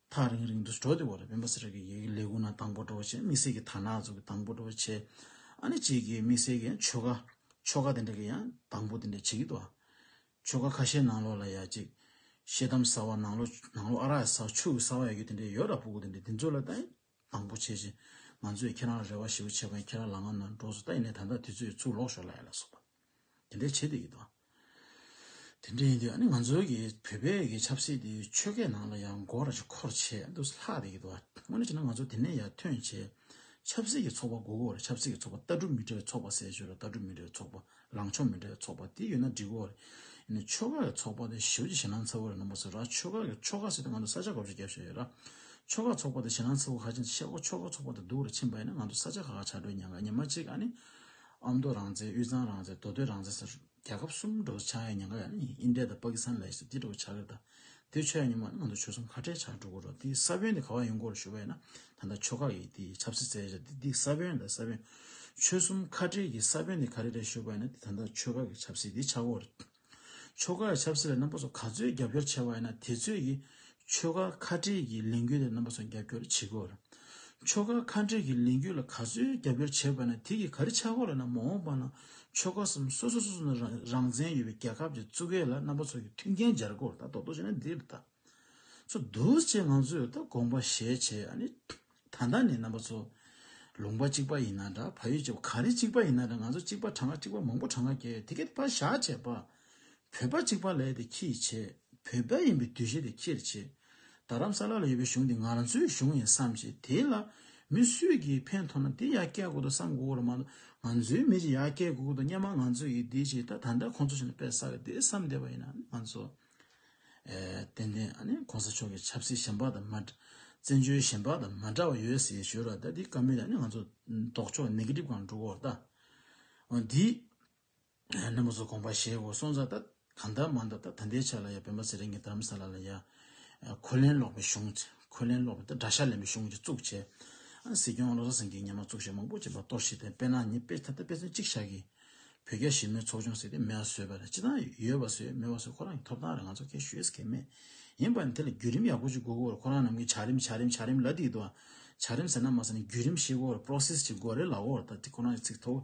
Speaker 1: ཐག་རིང་རིང་དུ་འགྲོ་དེ་བར་བན་བོ་སེ་ར་གི་ཡུལ་གྱི་ལས་ཁུངས་ན་དང་པོ་འགྲོ་བ་བྱས་དམིགས་བསལ་གྱི་དར་ནག་ཚོགས་ཀྱི་དང་པོ་འགྲོ་བ་བྱས། ཨ་ནི་བྱས་ཀྱི་དམིགས་བསལ་གྱི་ཆོ་ག། ཆོ་ག་དེ་འདྲ་གི་ཡང་དང་པོ་དེ་འདྲ་བྱེད་ཀྱི་འདུག་ཨ། ཆོ་ག་ཁ་ཤས་ནང་ལོགས་ལ་ཡ་གཅིག། ཤེལ་དམ་ཟ་བ་ནང་ལོགས་ནང་ལོགས་ཨ་རག་ཟ་བ་ཆུ་གི་ཟ་བ་ཡ་རྒྱུ་དེ་འདྲ་ཡོད་ར་སྤུ་གུ་དེ་འདྲ་དེ་ཚོ་ལ་ད་ཡིན། དང་པོ་བྱས་རྗེས། ང་ཚོས་ཁྱེད་རང་ལ་རེ་བ་ཞེ་བོ་བྱས་པ་ཡིན་ཁྱེད་རང་ལག་ངར་ནང་འགྲོགས་སུ་ལྟ་ཡིན་ནའི་ད་ལྟ་དུས་ཚོད་ཚུར་ལོག་ཞོར་ལ་ཡོད་ལ་སོགས་པ། དེ་འདྲའི་བྱེད་དུ་ཡོད་དོ། དེ་འདྲ་ཡིན་དུས་ཨ་ནི་ང་ཚོའི་གི་བོད་པའི་གི་ཆབ་སྲིད་དེ་ཆོལ་ཁའི་ནང་ལ་ཡང་འགོ་ར་ཅིག་འཁོར་ཆེད་དུ་ལྷག་དེ་ཡོད་དོ། དངོས་གནས་བྱས་ན་ང་ཚོ་དེ་ནས་ཡར་ཐོན་ཆེད་ཆབ་སྲིད་ཀྱི་ཚོགས་པ་དགུ་བར་ཆབ་སྲིད་ཀྱི་ཚོགས་པ་ལྟ་གྲུབ་མི་འདྲ་བའི་ཚོགས་པ་ཟེར་ཞོར་ལ་ལྟ་གྲུབ་མི་འདྲ་བའི་ཚོགས་པ་ལངས་ཕྱོགས་མི་འདྲ་བའི་ཚོགས་པ་དེ་ཡོད་ན་འགྲིག་གོ། ཡིན་ནའི་ཆོལ་ཁ་ཡི་ཚོགས་པ་དེ་ཞི་བ་ཆེ་ཞེ་སྣང་ཚ་བོ་རེད་ནང་པ་ཚོས་ར་ཆོལ་ཁ་གི་ཆོལ་ཁ་ཟེར་ཏེ་ང་ཚོ་ས་ཆ་ག་ཚོད་རྒྱབ་བཞིན་ཡོད་ར། ཆོལ་ཁ་ཚོགས་པ་དེ་ཞེ་སྣང་ཚ་བོ་ཧ་ཅང་ཆེ་ཨོ་ཆོལ་ཁ་ཚོགས་པ་དེ་སྡུག་རུ་ཕྱིན་པ་ཡིན་ན་ང་ཚོ་ས་ཆ་ཁག་ཁག་ཆགས་འགྲོའི་ཉེན་ཁ་ཉི་མ་གཅིག་ཨ་ནི། ཨ་མདོ་རང་བཙན་དབུས་གཙང་རང་བཙན་མདོ་སྟོད་རང་བཙན་ཟེར། རྒྱལ་ཁབ་གསུམ་འགྲོ་བར་ཆགས་ཡའི་ཉེན་ཁ་ཡ་ནི་ཨིན་དྲེ་དང་པ་ཀི་སཱན་མ་ལེ་ཤི་ཡ་དེ་འགྲོ་བར་ཆགས་ཀི་རེད་ད། དེ་ཆོས་ཉིད་མ་ཡིན་ང་ཚོ་ཆོས་སམ་ཁ་བྲལ་བྱ་འགྲོ་གི་རོ་འདི་ས་བོན་དེ་ག་བ་ཡིན་སྐོར་ཞུ་བས་ན་ད་ལྟ་ཆོ་ག་ཡི་དེ་ཆབ་སྲིད་བཙལ་བྱ་འདི་ས་བོན་དང་ས་བོན། ཆོས་གསུམ་ཁ་བྲལ་གྱི་ས་བོན་དེ་ག་རེ་རེད་ཞུ་བས་ན་འདི་ད་ལྟ་ཆོས་ག་གི་ཆབ་སྲིད་དེ་ཆག་གོ་རེད། ཆོ་ག་ཡི་ཆབ་སྲིད་ལ་རྣམ་པ་ཚོ་ག་ཚོད་རྒྱབ་སྐྱོར་བྱེད་བས་ན་དེ་ཚོད་ཀྱི་ཆོས་ག་ཁ་བྲལ་གྱི་ལས་འགུལ་དེ་རྣམ་པ་ཚོ་རྒྱབ་སྐྱོར་བྱེད་གོ་རེད། ཆོ་ག་ཁ་བྲལ་གྱི་ལས་འགུལ་ལ་ག་ཚོད་རྒྱབ་སྐྱོར་བྱེད་བས་ན་དེ་གི་ག་རེ་ཆག་གོ་རེད་ན་མ་འོངས་པ་ན་ཆོལ་ཁ་གསུམ་སོ་སོ་སོ་སོ་ནས་རང་བཙན་ཡོད་པའི་རྒྱལ་ཁབ་ཀྱི་གཙུག་གེ་ལ་རྣམ་པ་ཚོ་ཡི་མཐུན་རྐྱེན་སྦྱར་དགོས་ད་དོག་དོག་བྱས་ན་འདི་ལྟ་ཚོ་འདུག་ཅེས་ང་ཚོས་ད་དགོངས་པ་བཞེས་བྱས་ཨ་ནི། ད་ལྟ་ནི་རྣམ་པ་ཚོ་ལུང་པ་གཅིག་པ་ཡིན་ན་འདྲ་ཕ་ཡུལ་གཅིག་པ་གངས་རི་གཅིག་པ་ཡིན་ན་འདྲ་ང་ཚོ་གཅིག་པ་གྲངས་ཀ་གཅིག་པ་མང་པོ་གྲངས་ཀ་བརྒྱད་དེ་གས་ད་བཞག་བྱས་པ་བོད་པ་གཅིག་པ་ལས་དེ་ཁྱིས་བྱས། བོད་པའི་ཡིན་པའི་དུས་བཞི་དེ་ཁྱིར་བྱས། རྡ་རམ་ས་ལ་ལ་ཡོད་པའི་གཞུང་དེ་ང་ཚོའི་གཞུང་ཡིན་བསམ་ཞེས་དེ་ལ་མི་སུས་ཀྱིས་ཕན་ཐོག་ན་དེ་ཡར་བསྐྱལ་དགོས་འདུག་བསམ་དགོས་ཀྱི་མ་འདུག་ང་ཚོའི་མི་ཅིག་ཡར་བསྐྱལ་དགོས་ཀྱི་འདུག་སྙམ་མ་ང་ཚོས་ཀྱིས་དེ་བྱས་ད་ད་ལྟ་ཁོང་ཚོ་བྱས་ན་དཔེ་བསགས་ཀྱི་དེ་བསམ་བསྡད་པ་ཡིན་ན་ང་ཚོ་ཏན་ཏན་གོང་ས་མཆོག་གི་ཆབ་སྲིད་གཞན་པ་དང་མ་འདྲ་བཙན་བྱོལ་གཞན་པ་དང་མ་འདྲ་བ་ཡོད་ཟེར་ཞོར་ལ་ད་དེ་ཀ་མེད་ད་ནི་ང་ཚོ་ལྡོག་ཕྱོགས་ནེ་གི་ཏིབ་གང་འགྲོ་འོ་ད་འོ་འདི། ནི་མོ་སོ་གོང་པ་ཞེས་འོ་སོང་ཚ་ད་གང་ད་མ་འདབ་ད་ད་འདའི་ཆ་ལ་ཡ་བོན་པ་ཚེ་རིང་གི་དམ་ས་ལ་ལ་ཡ། ཁོ་ལན་སློག་པའི་གཞུང་བྱས་ཁོ་ལན་སློག་པའི་ད་དགྲ་ཤ་ལེན་པའི་གཞུང་བྱས་བཙུགས་བྱས། སྲིད་སྐྱོང་བློ་བཟང་སེང་གེའི་ཉན་མ་བཙུགས་བྱས་མང་པོ་བྱས་པ་གཏོར་བཤིག་དེ་དཔེ་ན་ཉིད་དཔེ་ད་ད་དཔེ་མཚོན་གཅིག་བཞག་གི། བོད་རྒྱ་ཞི་མོལ་ཚོགས་ཆུང་ཟེར་དེ་མེ་བ་ཟོས་པ་རེད་སྤྱི་དང་ཡོད་པ་ཟོས་མེད་བ་ཟོས་ཁོ་རང་གི་ཐོབ་ཐང་རེད་ང་ཚོ་ཁས་ཞུས་ཀྱི་མེད། ཡིན་པ་ནི་དེ་ལ་བརྒྱུད་རིམ་ཡག་པོ་ཅིག་དགོས་ཀྱི་རེད་ཁོ་རང་རྣམས་ཀྱིས་བྱ་རིམ་བྱ་རིམ་བྱ་རིམ་ལ་དེའི་དུ་བ། བྱ་རིམ་ཟེར་ན་མ་ཟེར་ན་བརྒྱུད་རིམ་ཤེས་ཀྱི་རེད process ཅིག་དགོས་རེད་ལའོ་ད་དེ་ཁོ་རང་གི་ཚིག་ཐོག།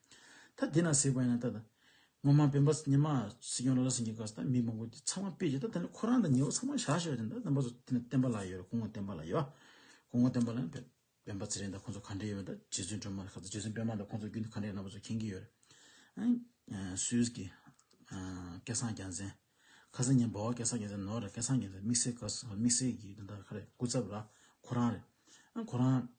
Speaker 1: ད་དེ་ན་ཟེགས་པ་ཡིན་ན་ད་ད། ངོ་མ་བེམ་པོ་ཉི་མ་སྲིད་སྐྱོང་ལོ་ལ་སེང་གེ་ག་ས་ད་མི་མང་པོ་དེ་ཚང་མ་པེ་ཅི་ད་དེ་ན་ཁོ་རང་ད་ཉེ་བོ་ཚང་མ་བཞག་ཤེས་པ་དེ་ད་རྣམ་པ་ཚོ་དེ་ན་བསྟན་པ་ལ་ཡོད་རེད་གོང་བསྟན་པ་ལ་ཡོད་པ། གོང་བསྟན་པ་ལ་ཡང་བེམ་བེམ་པ་ཚེ་རིང་ད་ཁོང་ཚོ་ག་འདྲ་ཡོད་པ་ད་རྗེ་བཙུན་སྒྲོལ་མ་ད་ག་ཚོ་རྗེ་བཙུན་པད་མ་ད་ཁོང་ཚོ་རྒྱུན་དུ་ག་འདྲ་ཡོད་རྣམ་པ་ཚོ་མཁྱེན་གྱི་ཡོད་རེད། སུས་ཀྱི། སྐལ་བཟང་རྒྱ་མཚན། ཁ་སང་ཉིན་འབའ་བ་སྐལ་བཟང་རྒྱ་མཚན་ནོར་རེད་སྐལ་བཟང་རྒྱ་མཚན་དམིགས་བསལ་ག་ས་དམིགས་བསལ་གྱི་དེ་ད་ཁ་རེད་སྐུ་ཚབ་ར་ཁོ་རང་རེད། ཨ་ཁོ་རང།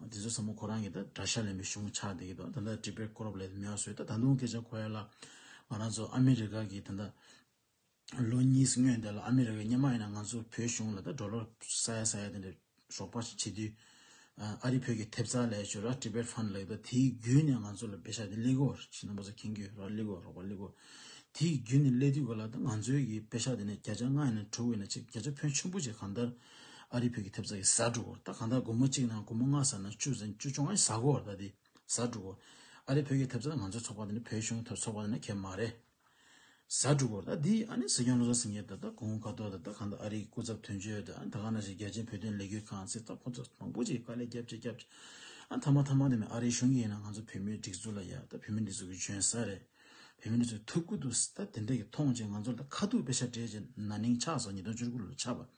Speaker 1: དེ་ཚོའི་ས་མོ་ཁོ་རང་གི་ད་དགྲ་ཤ་ལེན་པའི་གཞུང་ཆགས་བསྡད་ཀྱི་འདུག་ད་ལྟ་དྲི་བའི་སྐོར་ལས་མི་ཡག་བཟོས་ད་ད་དུང་སྐད་ཆ་གོ་ཡ་ལ། ང་རང་ཚོ་ཨ་མི་རི་ཀ་གི་ད་ད་ལོ་གཉིས་སྔོན་བསྡད་ལ་ཨ་མི་རི་ཀ་གཉེན་མ་ཡིན་ན་ང་ཚོ་བོད་གཞུང་ལ་ད་འགྲོ་ལོ་ས་ཡ་ས་ཡ་དེ་འདྲ་ཞོགས་པ་ཞིག་བྱེད་དུས། ཨ་རི་བོད་ཀྱི་ཐེབས་རྩ་ལས་ཆོས་ར Tibet Fund ལགས་ད་དེའི་བརྒྱུད་ནས་ང་ཚོ་ལ་བེ་ཤ་དེ་གླེགས་གོ་ཞེས་ན་པ་ཚོ་ཁེངས་རྒྱུ་ར་གླེགས་གོ་རོགས་པ་གླེགས་གོ། དེའི་བརྒྱུད་ནས་གླེགས་དུས་གོ་ལ་ད་ང་ཚོའི་གི་བེ་ཤ་དེ་ནས་བརྒྱ་ཆ་ལྔ་ཡིན་ན་དྲུག་ཡིན་ན་ཆིག་བརྒྱ་ཆ་ཕོན་ཆེན་པོ་ཆེ་གང་ལྟར་ཨ་རིའི་བོད་ཀྱི་ཐེབས་རྩ་གི་ཟྭ་དྲུག་ད་གང་ལྟར་དགུང་མོ་གཅིག་ནང་དགུང་མོ་ལྔ་ཟ་ན་བཅུ་ཟིན་བཅུ་བྱུང་ཨ་ཟྭ་གོ་ད་དེ་ཟྭ་དྲུག་ཨ་རིའི་བོད་ཀྱི་ཐེབས་རྩ་ནི་ང་ཚོའི་ཚོགས་པ་དེ་ནི་བོད་གཞུང་ཚོགས་པ་དེ་ནི་གད་མ་རེད། ཟྭ་དྲུག་ད་དེ་ཨ་ནི་སྲིད་སྐྱོང་བློ་བཟང་སེང་གེ་ད་ད་གོང་དཀའ་ཐུབ་ད་ད་གང་ལྟར་ཨ་རིའི་སྐུ་ཚབ་དོན་གཅོད་ད་ད་གང་ན་ཞིག་རྒྱལ་སྤྱིའི་བོད་དོན་ལས་འགུལ་ཁང་ཚིག་ཐག་ཁོ་ཚོ་མང་པོ་ཅིག་དཀའ་ལས་བརྒྱབ་བརྒྱབ་བརྒྱབ་ཨ་ཐ་མ་ཐ་མ་དེ་ནི་ཨ་རིའི་གཞུང་གིས་ཡིན་ན་ང་ཚོ་བོད་མིའི་སྒྲིག་འཛུགས་ལ་ཡ་ད་བོད་མིའི་སྒྲིག་འཛུགས་ཀྱི་འཇོན་ས་རེད། བོད་མི་ཚོས་ཐུགས་ཁུར་དུ་ཟླ་དེ་འདྲ་ཡི་མཐོང་རྗེས་ང་ཚོར་ད་ཁ་ཐུག་དཔེ་ཆ་སྤྲད་རྗེས་ན་ནིང་ཆགས་སོགས་ཉིས་སྟོང་བཅུ་དགུ་ལོར་ཆགས་པ།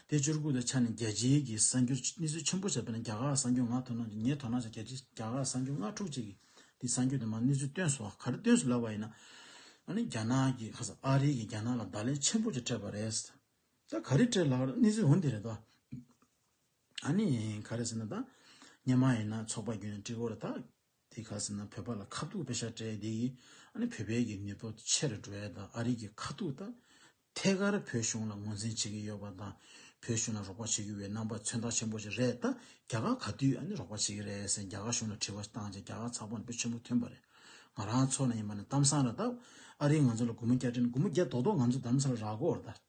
Speaker 1: དེ་བཅུ་དགུ་ལོའི་ཆ་ནས་རྒྱལ་སྤྱིའི་གི་གསར་འགྱུར་གནས་ཚུལ་ཆེན་པོ་ཆགས་པས་ན་རྒྱ་གར་གསར་འགྱུར་ང་དོ་སྣང་བྱེད་ངས་དོ་སྣང་བྱས་རྒྱལ་སྤྱི་རྒྱ་གར་གསར་འགྱུར་ལྔ་དྲུག་ཅིག་གིས་དེ་གསར་འགྱུར་དུ་མ་གནས་ཚུལ་བཏོན་སོ་ག་རེ་བཏོན་སུ་ལབ་པ་ཡིན་ན། ཨ་ནི་རྒྱ་ནག་གི་ཁ་སང་ཨ་རི་གིས་རྒྱ་ནག་ལ་བརྡ་ལན་ཆེན་པོ་ཅིག་སྤྲད་པ་རེད། ད་ག་རེ་སྤྲད་ལགས་གནས་ཚུལ་འོན་དེ་རེད་དོ། ཨ་ནི་ག་རེ་ཟེར་ན་ད། ཉེས་མ་ཡིན་ན་ཚོགས་པ་བརྒྱུད་ནས་དཀྲིགས་འོར་ད། དེ་ག་ཟེར་ན་བོད་པ་ལ་ཁ་ཐུག་པེ་ཤ་སྤྲད་དེ་ཡིས་ཨ་ནི་བོད་པའི་གི་མི་ཐོ་ཆེར་འགྲོ་ཡ་དང་ཨ་རིག་གི་ཁ་ཐུག་ད་ཐད་ཀར་བོད་གཞུང་ལ་ངོ་འཛིན་བྱེད་གི་ཡོད་པ་དང་བོད་གཞུང་ལ་རོགས་པ་བྱེད་གི་ཡོད་རྣམ་པ་མཚོན་རྟགས་ཆེན་པོ་ཅིག་རེད་ད་རྒྱ་གར་ག་དུས་ཨ་ནི་རོགས་པ་བྱེད་གི་རེད་ཟེར་རྒྱ་གར་གཞུང་ལ་དྲི་བ་བཏང་རྗེས་རྒྱ་གར་ཚགས་པར་ནས་པོ་ཆེན་པོ་ཐོན་པ་རེད་ང་རང་ཚོ་ན་ཡིན་པ་ནས་གཏམ་བཟང་རེད་ད་ཨ་རིག་ང་ཚོ་ལ་དགུ་མོ་བརྒྱ་སྤྲད་ན་དགུ་མོ་བརྒྱ་རྡོག་རྡོག་ང་ཚོ་དམ་ཚ་ལ་རག་གོ་རེད་ད།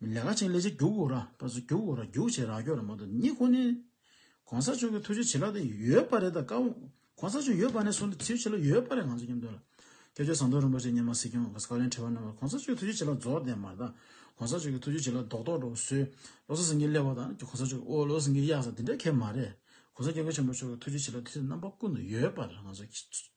Speaker 1: མི་ལེ་ཁ་ཆིང་ལེ་ཆེ་རྒྱུག་གོ་ར་པ་ཚོ་རྒྱུག་གོ་ར་རྒྱུག་བྱེད་ར་རྒྱོ་ར་མ་ཏོ་ནི་ཁོ་ནི། གོང་ས་མཆོག་གི་ཐུགས་རྗེ་བྱིན་རླབས་དེ་ཡོད་པ་རེད་ད་ཀ་བོ་གོང་ས་མཆོག་ཡོད་པ་ནས་སོང་ཏེ་ཐུགས་རྗེ་བྱིན་རླབས་ཡོད་པ་རེད་ང་ཚོ་སྙམ་དོན་ལ། སྐྱབས་བཅོལ་ཟམ་གདོང་རིན་པོ་ཆེ་སྙེ་མ་སྲིད་སྐྱོང་གི་བཀའ་བློན་ཁྲི་བ་རྣམ་པ་གོང་ས་མཆོག་གི་ཐུགས་རྗེ་བྱིན་རླབས་རྫོགས་ལྡན་མ་དང་གོང་ས་མཆོག་གི་ཐུགས་རྗེ་བྱིན་རླབས་རྡོག་རྡོག་འགྲོ་བ་བཟོས་བློ་གསར་སེང་གེ་ཀླད་པ་དང་གོང་ས་མཆོག་གི་ཨོ་བློ་སེང་གེ་གཡག་ས་དེ་འདྲ་ཁེ་མ་རེད་གོང་ས་སྐྱབས་མགོན་ཆེན་པོ་མཆོག་གི་ཐུགས་རྗེ་བྱིན་རླབས་དུས་ཚོད་རྣམ་པ་ཀུན་ཏུ་ཡོད་པར་ང་ཚོ།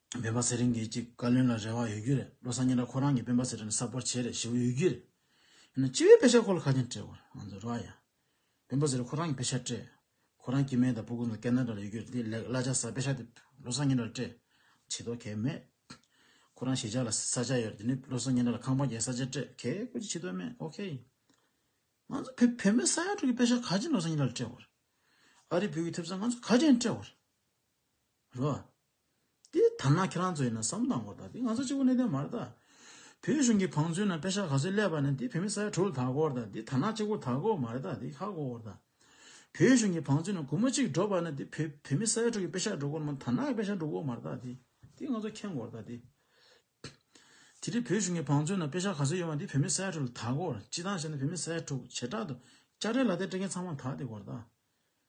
Speaker 1: སྨན་པ་ཟེར་རིན་གྱིས་ཀྱི་བཀའ་བློན་ལ་རེ་བ་ཡོད་རྒྱུ་རེད་བློ་བཟང་ཉི་ལ་ཁོ་རང་གི་སྤེན་པ་ཟེར་རིན་གསར་པར་བྱས་རེད་ཞེ་བོ་ཡོད་རྒྱུ་རེད་ཡིན་ན་སྤྱི་བའི་དཔེ་ཆ་ཁོ་ལ་ཁ་ཆེམས་སྤྲད་དགོས་རེད་ང་ཚོ་རེ་བ་ཡ། སྤེན་པ་ཟེར་རིན་ཁོ་རང་གི་དཔེ་ཆ་སྤྲད་ཁོ་རང་སྐྱིད་སྨན་དང་སྤུ་ཀུན་དང་སྐད་སྣ་འདྲ་ལ་ཡོད་རྒྱུ་རེད་དེ་ལེགས་གླ་ཆ་ཟ་དཔེ་ཆ་དེ་བློ་བཟང་ཉི་ལ་སྤྲད་བྱེད་དོ་གས་མེད་ཁོ་རང་གཞིས་ཆགས་ལ་ས་ཆ་ཡོད་རེད་དེ་ནས་བློ་བཟང་ཉི་ལ་ལ་ཁང་པ་རྒྱའི་ས་ཆ་སྤྲད་གས་ཁོ་ཅི་བྱེད་དོ་མེད་ཨོ་ཁེ། ང་ཚོ་བོད་བོད་མི་ས་ཡ་དྲུག་གི་དཔེ་ཆ་ག་ཅིག་བློ་བཟང་ཉི་ལ་ལ་སྤྲད་དགོས་རེད་ཨ་རི་བོད་ཀྱི་ཐེབས་རྩ་ང་ཚོ་ག་ཅིག་ཡང་སྤྲད་དགོས་རེད། རེད་བ། དེ་ཐ་ན་ཁྱེད་རང་ཚོ་ཡིན་ན་བསམ་དང་གོ་ད་དེ་ང་ཚོ་གཅིག་པོ་གནས་དོན་མ་རེད་ད། བོད་གཞུང་གི་བང་མཛོད་ན་དཔེ་ཆ་ག་ཚོད་སླེབས་པ་ནི་དེ་བོད་མི་ས་ཡ་དྲུག་ལ་དྭགས་སྐོར་ད་དེ་ཐ་ན་གཅིག་པོ་དྭགས་སྐོར་མ་རེད་ད་དེ་ཁ་སྐོར་སྐོར་ད། བོད་གཞུང་གི་བང་མཛོད་ན་གུང་མོ་གཅིག་འབྲོ་པ་ནི་དེ་བོད་བོད་མི་ས་ཡ་དྲུག་གི་དཔེ་ཆ་འབྲོ་སྐོར་མ་ཐ་ན་གི་དཔེ་ཆ་འབྲོ་སྐོར་མ་རེད་ད་དེ་དེ་ང་ཚོ་མཁྱེན་དགོ་རེད་ད་དེ། དེ་དེ་བོད་གཞུང་གི་བང་མཛོད་ན་དཔེ་ཆ་ག་ཚོད་ཡོད་པ་དེ་བོད་མི་ས་ཡ་དྲུག་ལ་དྭགས་སྐོར་སྤྱི་སྟངས་བྱས་ན་བོད་མི་ས་ཡ་དྲུག་བྱེ་བྲག་ཏུ་དཔྱ་ཁྲལ་ལག་དེབ་སྤྲད་མཁན་ཚང་མ་དྭགས་དེ་སྐོར་ད།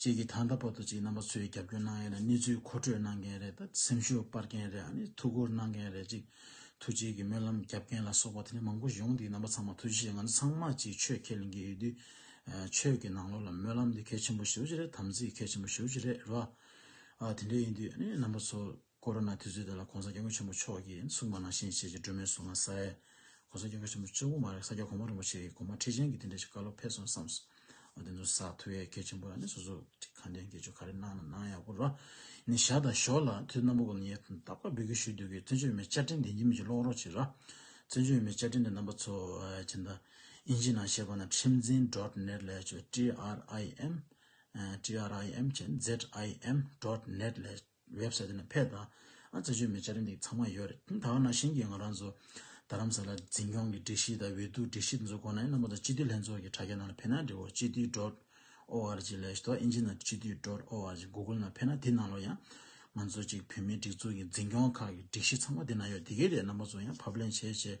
Speaker 1: གཅིག་གིས་ད་ལྟ་བར་དུ་གཅིག་རྣམ་པ་ཚོས་རྒྱབ་སྐྱོར་གནང་ཡས་ལ་གནས་ཚུལ་མཁོ་སྤྲོད་གནང་མཁན་རེད་ད་སེམས་ཤུགས་སྤར་མཁན་རེད་ཨ་ནི་ཐུགས་ཁུར་གནང་མཁན་རེད་གཅིག་ཐུགས་རྗེ་གི་སྨོན་ལམ་རྒྱབ་མཁན་ལ་སོགས་པ་དེ་ནས་མང་པོ་ཡོང་འདིའི་རྣམ་པ་ཚང་མ་ཐུགས་རྗེ་ཆེ་ང་ཚོ་ཚང་མ་གཅིག་ཆོས་ཁས་ལེན་གི་ཡོད་དུས་ཆོས་ཀྱི་ནང་ལོགས་ལ་སྨོན་ལམ་འདི་གལ་ཆེན་པོ་ཞུ་རྒྱུ་རེད་དམ་ཚིག་གལ་ཆེན་པོ་ཞུ་རྒྱུ་རེད་རེད་བ། དེ་འདྲ་ཡིན་དུས་ཨ་ནི་རྣམ་པ་ཚོ། ཀོ་རོ་ན་དུས་ཚོད་དེ་ལ ྋགོང་ས ྋསྐྱབས་མགོན་ཆེན་པོ་མཆོག་གིས་གསུང་པ་ནང་བཞིན་བྱས་རྗེས་སྒྲོལ་མའི་གཟུངས་སྔགས་ས་ཡས ྋགོང་ས ྋསྐྱབས་མགོན་ཆེན་པོ་གཅུང་བོ་མ་རེད་ས་སྐྱ་གོང་མ་རིན་པོ་ཆེ་ཡིས་གོང་མ་ཁྲི་ཆེན་གྱི་དེ་འདྲ་ཞིག་བཀའ་སློབ་ཕེབས་སོང་བསམས་སོ། དེ་ཚོ་ཟ་ཐུ་ཡས་གལ་ཆེན་པོ་ལ་ནི་སོ་སོ་ཀྱི་ཁ་འདན་གྱི་ཆོ་ག་རེ་གནང་ན་གནང་ཡག་པོ་ར་ནི་བཞག་དང་ཞོག་ལ་དུས་རྣམ་པ་ཀུན་ལ་ངས་ད་བཀའ་འབུལ་གྱི་ཞུ་འདོད་ཀྱི་བཙན་བྱོལ་བོད་མའི་བཅའ་ཁྲིམས་དེ་འཇིག་མེད་ཀྱི་ཀློག་རོགས་བྱེད་ར། བཙན་བྱོལ་བོད་མའི་བཅའ་ཁྲིམས་དེ་རྣམ་པ་ཚོ ྋསྤྱི་ཟླ་ཨིན་ཇིའི་ནང་བཤད་པ་ན་ཁྲིམས་འཛིན dot net ལས་བྱོས TRIM ཨ TRIM ཁྱེད ZIM dot net ལས། བེབ་སའི་ཏི་ན་ཕེབས་དང་རྩེད་ཆོད་མི་བྱ་རིན་འདིག་ཚང་མ་ཡོད་རེད་ད་བར་ན་ཞིང་གི་ང་རང་ཚོ་རྡ་རམ་ས་ལ་འཛིན་སྐྱོང་གི་སྒྲིག་གཞི་དང་འོས་བསྡུ་སྒྲིག་གཞི་དེ་ཚོ་གོ་ནའི་རྣམ་པ་དང་སྤྱི་འཐུས་ལྷན་ཚོགས་ཀྱི་དྲ་རྒྱ་ནང་ལ་ཕེབས་ན་འབྲི་བ་སྤྱི་འཐུས dot org སླེས་དོ་ཨིན་ཇི་ནང་སྤྱི་འཐུས dot org Google ནང་ཕེབས་ན་དེ་ནང་ལོ་ཡང་ང་ཚོ་གཅིག་བོད་མིའི་སྒྲིག་འཛུགས་ཀྱི་འཛིན་སྐྱོང་ཁག་གི་སྒྲིག་གཞི་ཚང་མ་དེ་ནང་ཡོད་དེ་གའི་རེད་རྣམ་པ་ཚོ་ཡང་ཕབ་ལེན་བྱེད་བྱེད་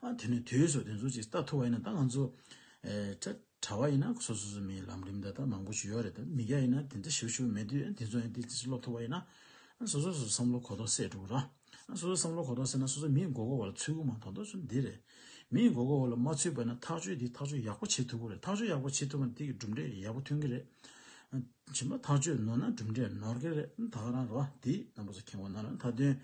Speaker 1: ཨ་དེ་ནས་དུས་སུ་དེ་ཚོ་ཅིག་ལྟ་ཐུབ་བ་ཡིན་ན་ད་ང་ཚོ་ཨེ། གྲྭ་བ་ཡིན་ན་སོ་སོ་སོའི་མིའི་ལམ་རིམ་དག་དག་མང་པོ་ཞུ་ཡག་རེད་དོ་མི་རྒྱ་ཡིན་ན་དེ་འདྲ་ཞུ་ཞུ་མེད་དུས་དེ་ཚོ་ཡང་དེ་དེ་ཚོ་སློབ་ཐུབ་པ་ཡིན་ན། སོ་སོ་སོ་བསམ་བློ་གོ་རྟོགས་སད་འགྲོ་གི་ར། སོ་སོ་བསམ་བློ་གོ་རྟོགས་སད་ན་སོ་སོ་མིའི་མགོ་སྐོར་བ་ལ་ཚུད་དགོས་མ་མཐོང་དོན་ཚུལ་འདི་རེད། མིའི་མགོ་སྐོར་བ་ལ་མ་ཚུད་པ་ཡིན་ན་ཐག་གཅོད་འདི་ཐག་གཅོད་ཡག་པོ་བྱེད་ཐུབ་དགོས་རེད་ཐག་གཅོད་ཡག་པོ་བྱེད་ཐུབ་པ་ན་དེ་གི་གྲུབ་འབྲས་ཡག་པོ་ཐོན་གི་རེད། བྱིན་པ་ཐག་ཆོད་ནོར་ན་གྲུབ་འབྲས་ནོར་སྐལ་དག་རང་རོ་དེ་རྣམ་པ་སོགས་ཁེངས་བ་ན་རང་མཐའ་དོན།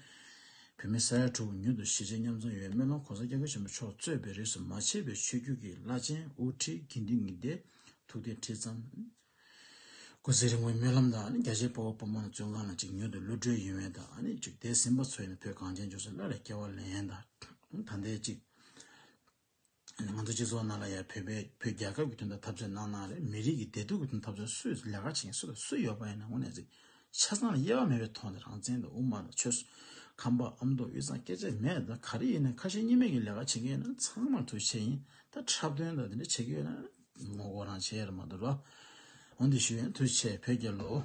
Speaker 1: བོད་མི་ས་ཡ་དྲུག་མྱུར་དུ་གཞིས་བྱེས་མཉམ་འཛོམས་ཡོད་སྨོན་ལམ་གོང་ས་སྐྱབས་མགོན་ཆེན་པོ་མཆོག་གཙོས་པའི་རིས་སུ་མ་ཆད་པའི་ཆོས་བརྒྱུད་ཀྱི་བླ་ཆེན་དབུ་ཁྲིད་དགེ་འདུན་གཉིས་སྡེ་ཐུགས་རྟེན་ཁྲི་བརྩམས། སྐུ་ཚེ་རིང་བའི་སྨོན་ལམ་དང་རྒྱ་ཆེའི་སྤོབས་པ་སྤོབས་མང་ལ་བཙོན་ཁང་ན་ཅིག་མྱུར་དུ་གློད་གྲོལ་ཡོད་མེད་དང་ནི་ཅིག་འདས་ཟིན་པ་ཚོའི་ནི་བོད་གངས་ཅན་ལྗོངས་སུ་སླར་ཡང་སྐྱེ་བ་ལེན་དང་ད་ལྟའི་ཅིག། ང་ཚོ་སྤྱི་ཚོགས་ནང་ལ་ཡང་བོད་པས་བོད་རྒྱལ་ཁབ་ཀྱི་དོན་དུ་འཐབ་རྩོད་གནང་གནང་རེད་མི་རིགས་ཀྱི་བདེ་སྡུག་གི་དོན་འཐབ་རྩོད་སུས་ལས་ཀ་བྱེད་མཁན་སུ་ལ་སུ་ཡོད་པ་ཡིན་ན་དངོས་གནས་གཟིགས། ཆ་ཚང་ལ་དབྱེ་བ་མེད་པའི་ཐོག་ནས་རང་བཙན་དང་དབུ་མ་དང་ཆོལ། ཁམས་པ་ཨ་མདོ་དབུས་གཙང་སྐད་ཆ་མེད་ད་ག་རེ་ཡིན་ན་ཁ་ཞེ་གཉིས་མེད་ཀྱི་ལས་ཀ་བྱེད་མཁན་ཡིན་ན་ཚང་མར་ཐུགས་ཆེ་ཡིན་ད་འཁྲབ་སྟོན་དང་དེ་འདྲ་བྱེད་ཀྱི་ཡོད་ན་ངོ་རྒོལ་རང་བྱེད་ཡ་རེད་མ་འདུག་རོ། འོན་ཏེ་ཞུ་ཡོན་ཐུགས་ཆེ་བོད་རྒྱལ་ལོ།